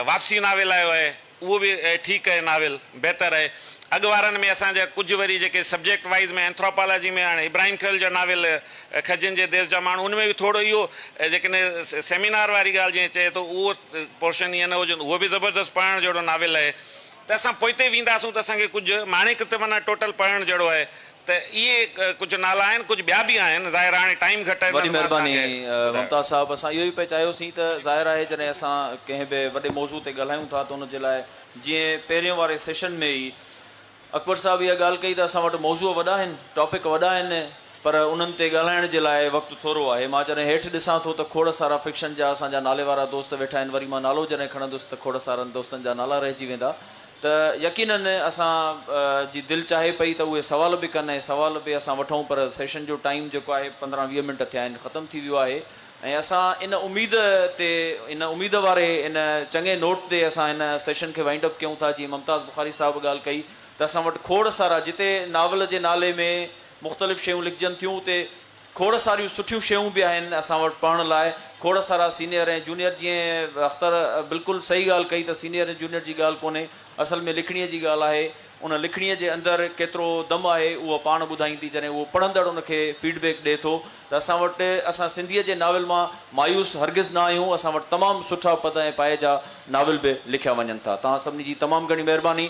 واپسي ناول آيو آهي اهو به ٺيڪ آهي ناول بهتر آهي اڳ وارن ۾ اسان جا ڪجهه وري جيڪي سبجيڪٽ وائيز ۾ اينٿراپالاجي ۾ هاڻي ابراهيم خيل جا ناول کجين جي ديس جا ماڻهو ان ۾ به ٿورو اهو جيڪن سيمينار واري ڳالهه جيئن چئي ٿو اهو پورشن ايئن نه هجن اهو به زبردست پڙهڻ جهڙو ناول آهي ته اسان پوئتي وينداسون ته اسان کي ڪجهه ماڻيڪ ته معنيٰ ٽوٽل پڙهڻ جهڙو آهي ته اهي ڪجهه نالا آهن ڪجهه ٻيا به آهن ظاهر آهي هاڻي ٽائيم گهٽ آهي وڏي مهرباني ممتاز صاحب اسان اهو ئي پئي چاهيو سين ته ظاهر آهي جڏهن اسان ڪنهن به وڏي موضوع تي ڳالهايون ٿا ته ان جي لاء جيئن پهرين واري سيشن ۾ ئي اڪبر صاحب اها ڳالهه ڪئي ته اسان وٽ موضوع وڏا آهن ٽاپڪ وڏا آهن پر انهن تي ڳالهائڻ جي لاء وقت ٿورو آهي مان جڏهن هيٺ ڏسان ٿو ته کوڙ سارا فڪشن جا اسان جا ناليوارا دوست ويٺا آهن وري مان نالو جڏهن کڻندس ته کوڙ سارن دوستن جا نالا رهجي ويندا ته يقينن اسان جي دل چاهي پئي ته اهي سوال به ڪن ۽ سوال به اسان وٺون پر سيشن جو ٽائيم جيڪو آهي پندرهن ويهه منٽ ٿيا آهن ختم ٿي ويو آهي ۽ اسان ان اميد تي ان اميد واري ان چڱي نوٽ تي اسان هن سيشن کي وائنڊ اپ ڪيون ٿا جيئن ممتاز بخاري صاحب ڳالهه ڪئي ته اسان وٽ کوڙ سارا جتي ناول جي نالي ۾ مختلف شيون لکجن ٿيون اتي کوڙ ساريون سٺيون شيون به آهن اسان وٽ پڙهڻ لاء کوڙ سارا سينئر ۽ جونئر جيئن اختر بلڪل صحيح ڳالهه ڪئي ته سينئر ۽ جونئر جي ڳالهه ڪونهي اصل ۾ لکڻيء جي ڳالهه آهي ان لکڻيء جي اندر ڪيترو دم آهي اهو پاڻ ٻڌائيندي جڏهن اهو پڙهندڙ ان کي فيڊ بيڪ ڏئي ٿو ته اسان وٽ اسان سنڌيء جي ناول مان مايوس هرگز نه آهيون اسان وٽ تمام سٺا پد ۽ پائي جا ناول به لکيا وڃن ٿا توهان سڀني جي تمام گهڻي مهرباني.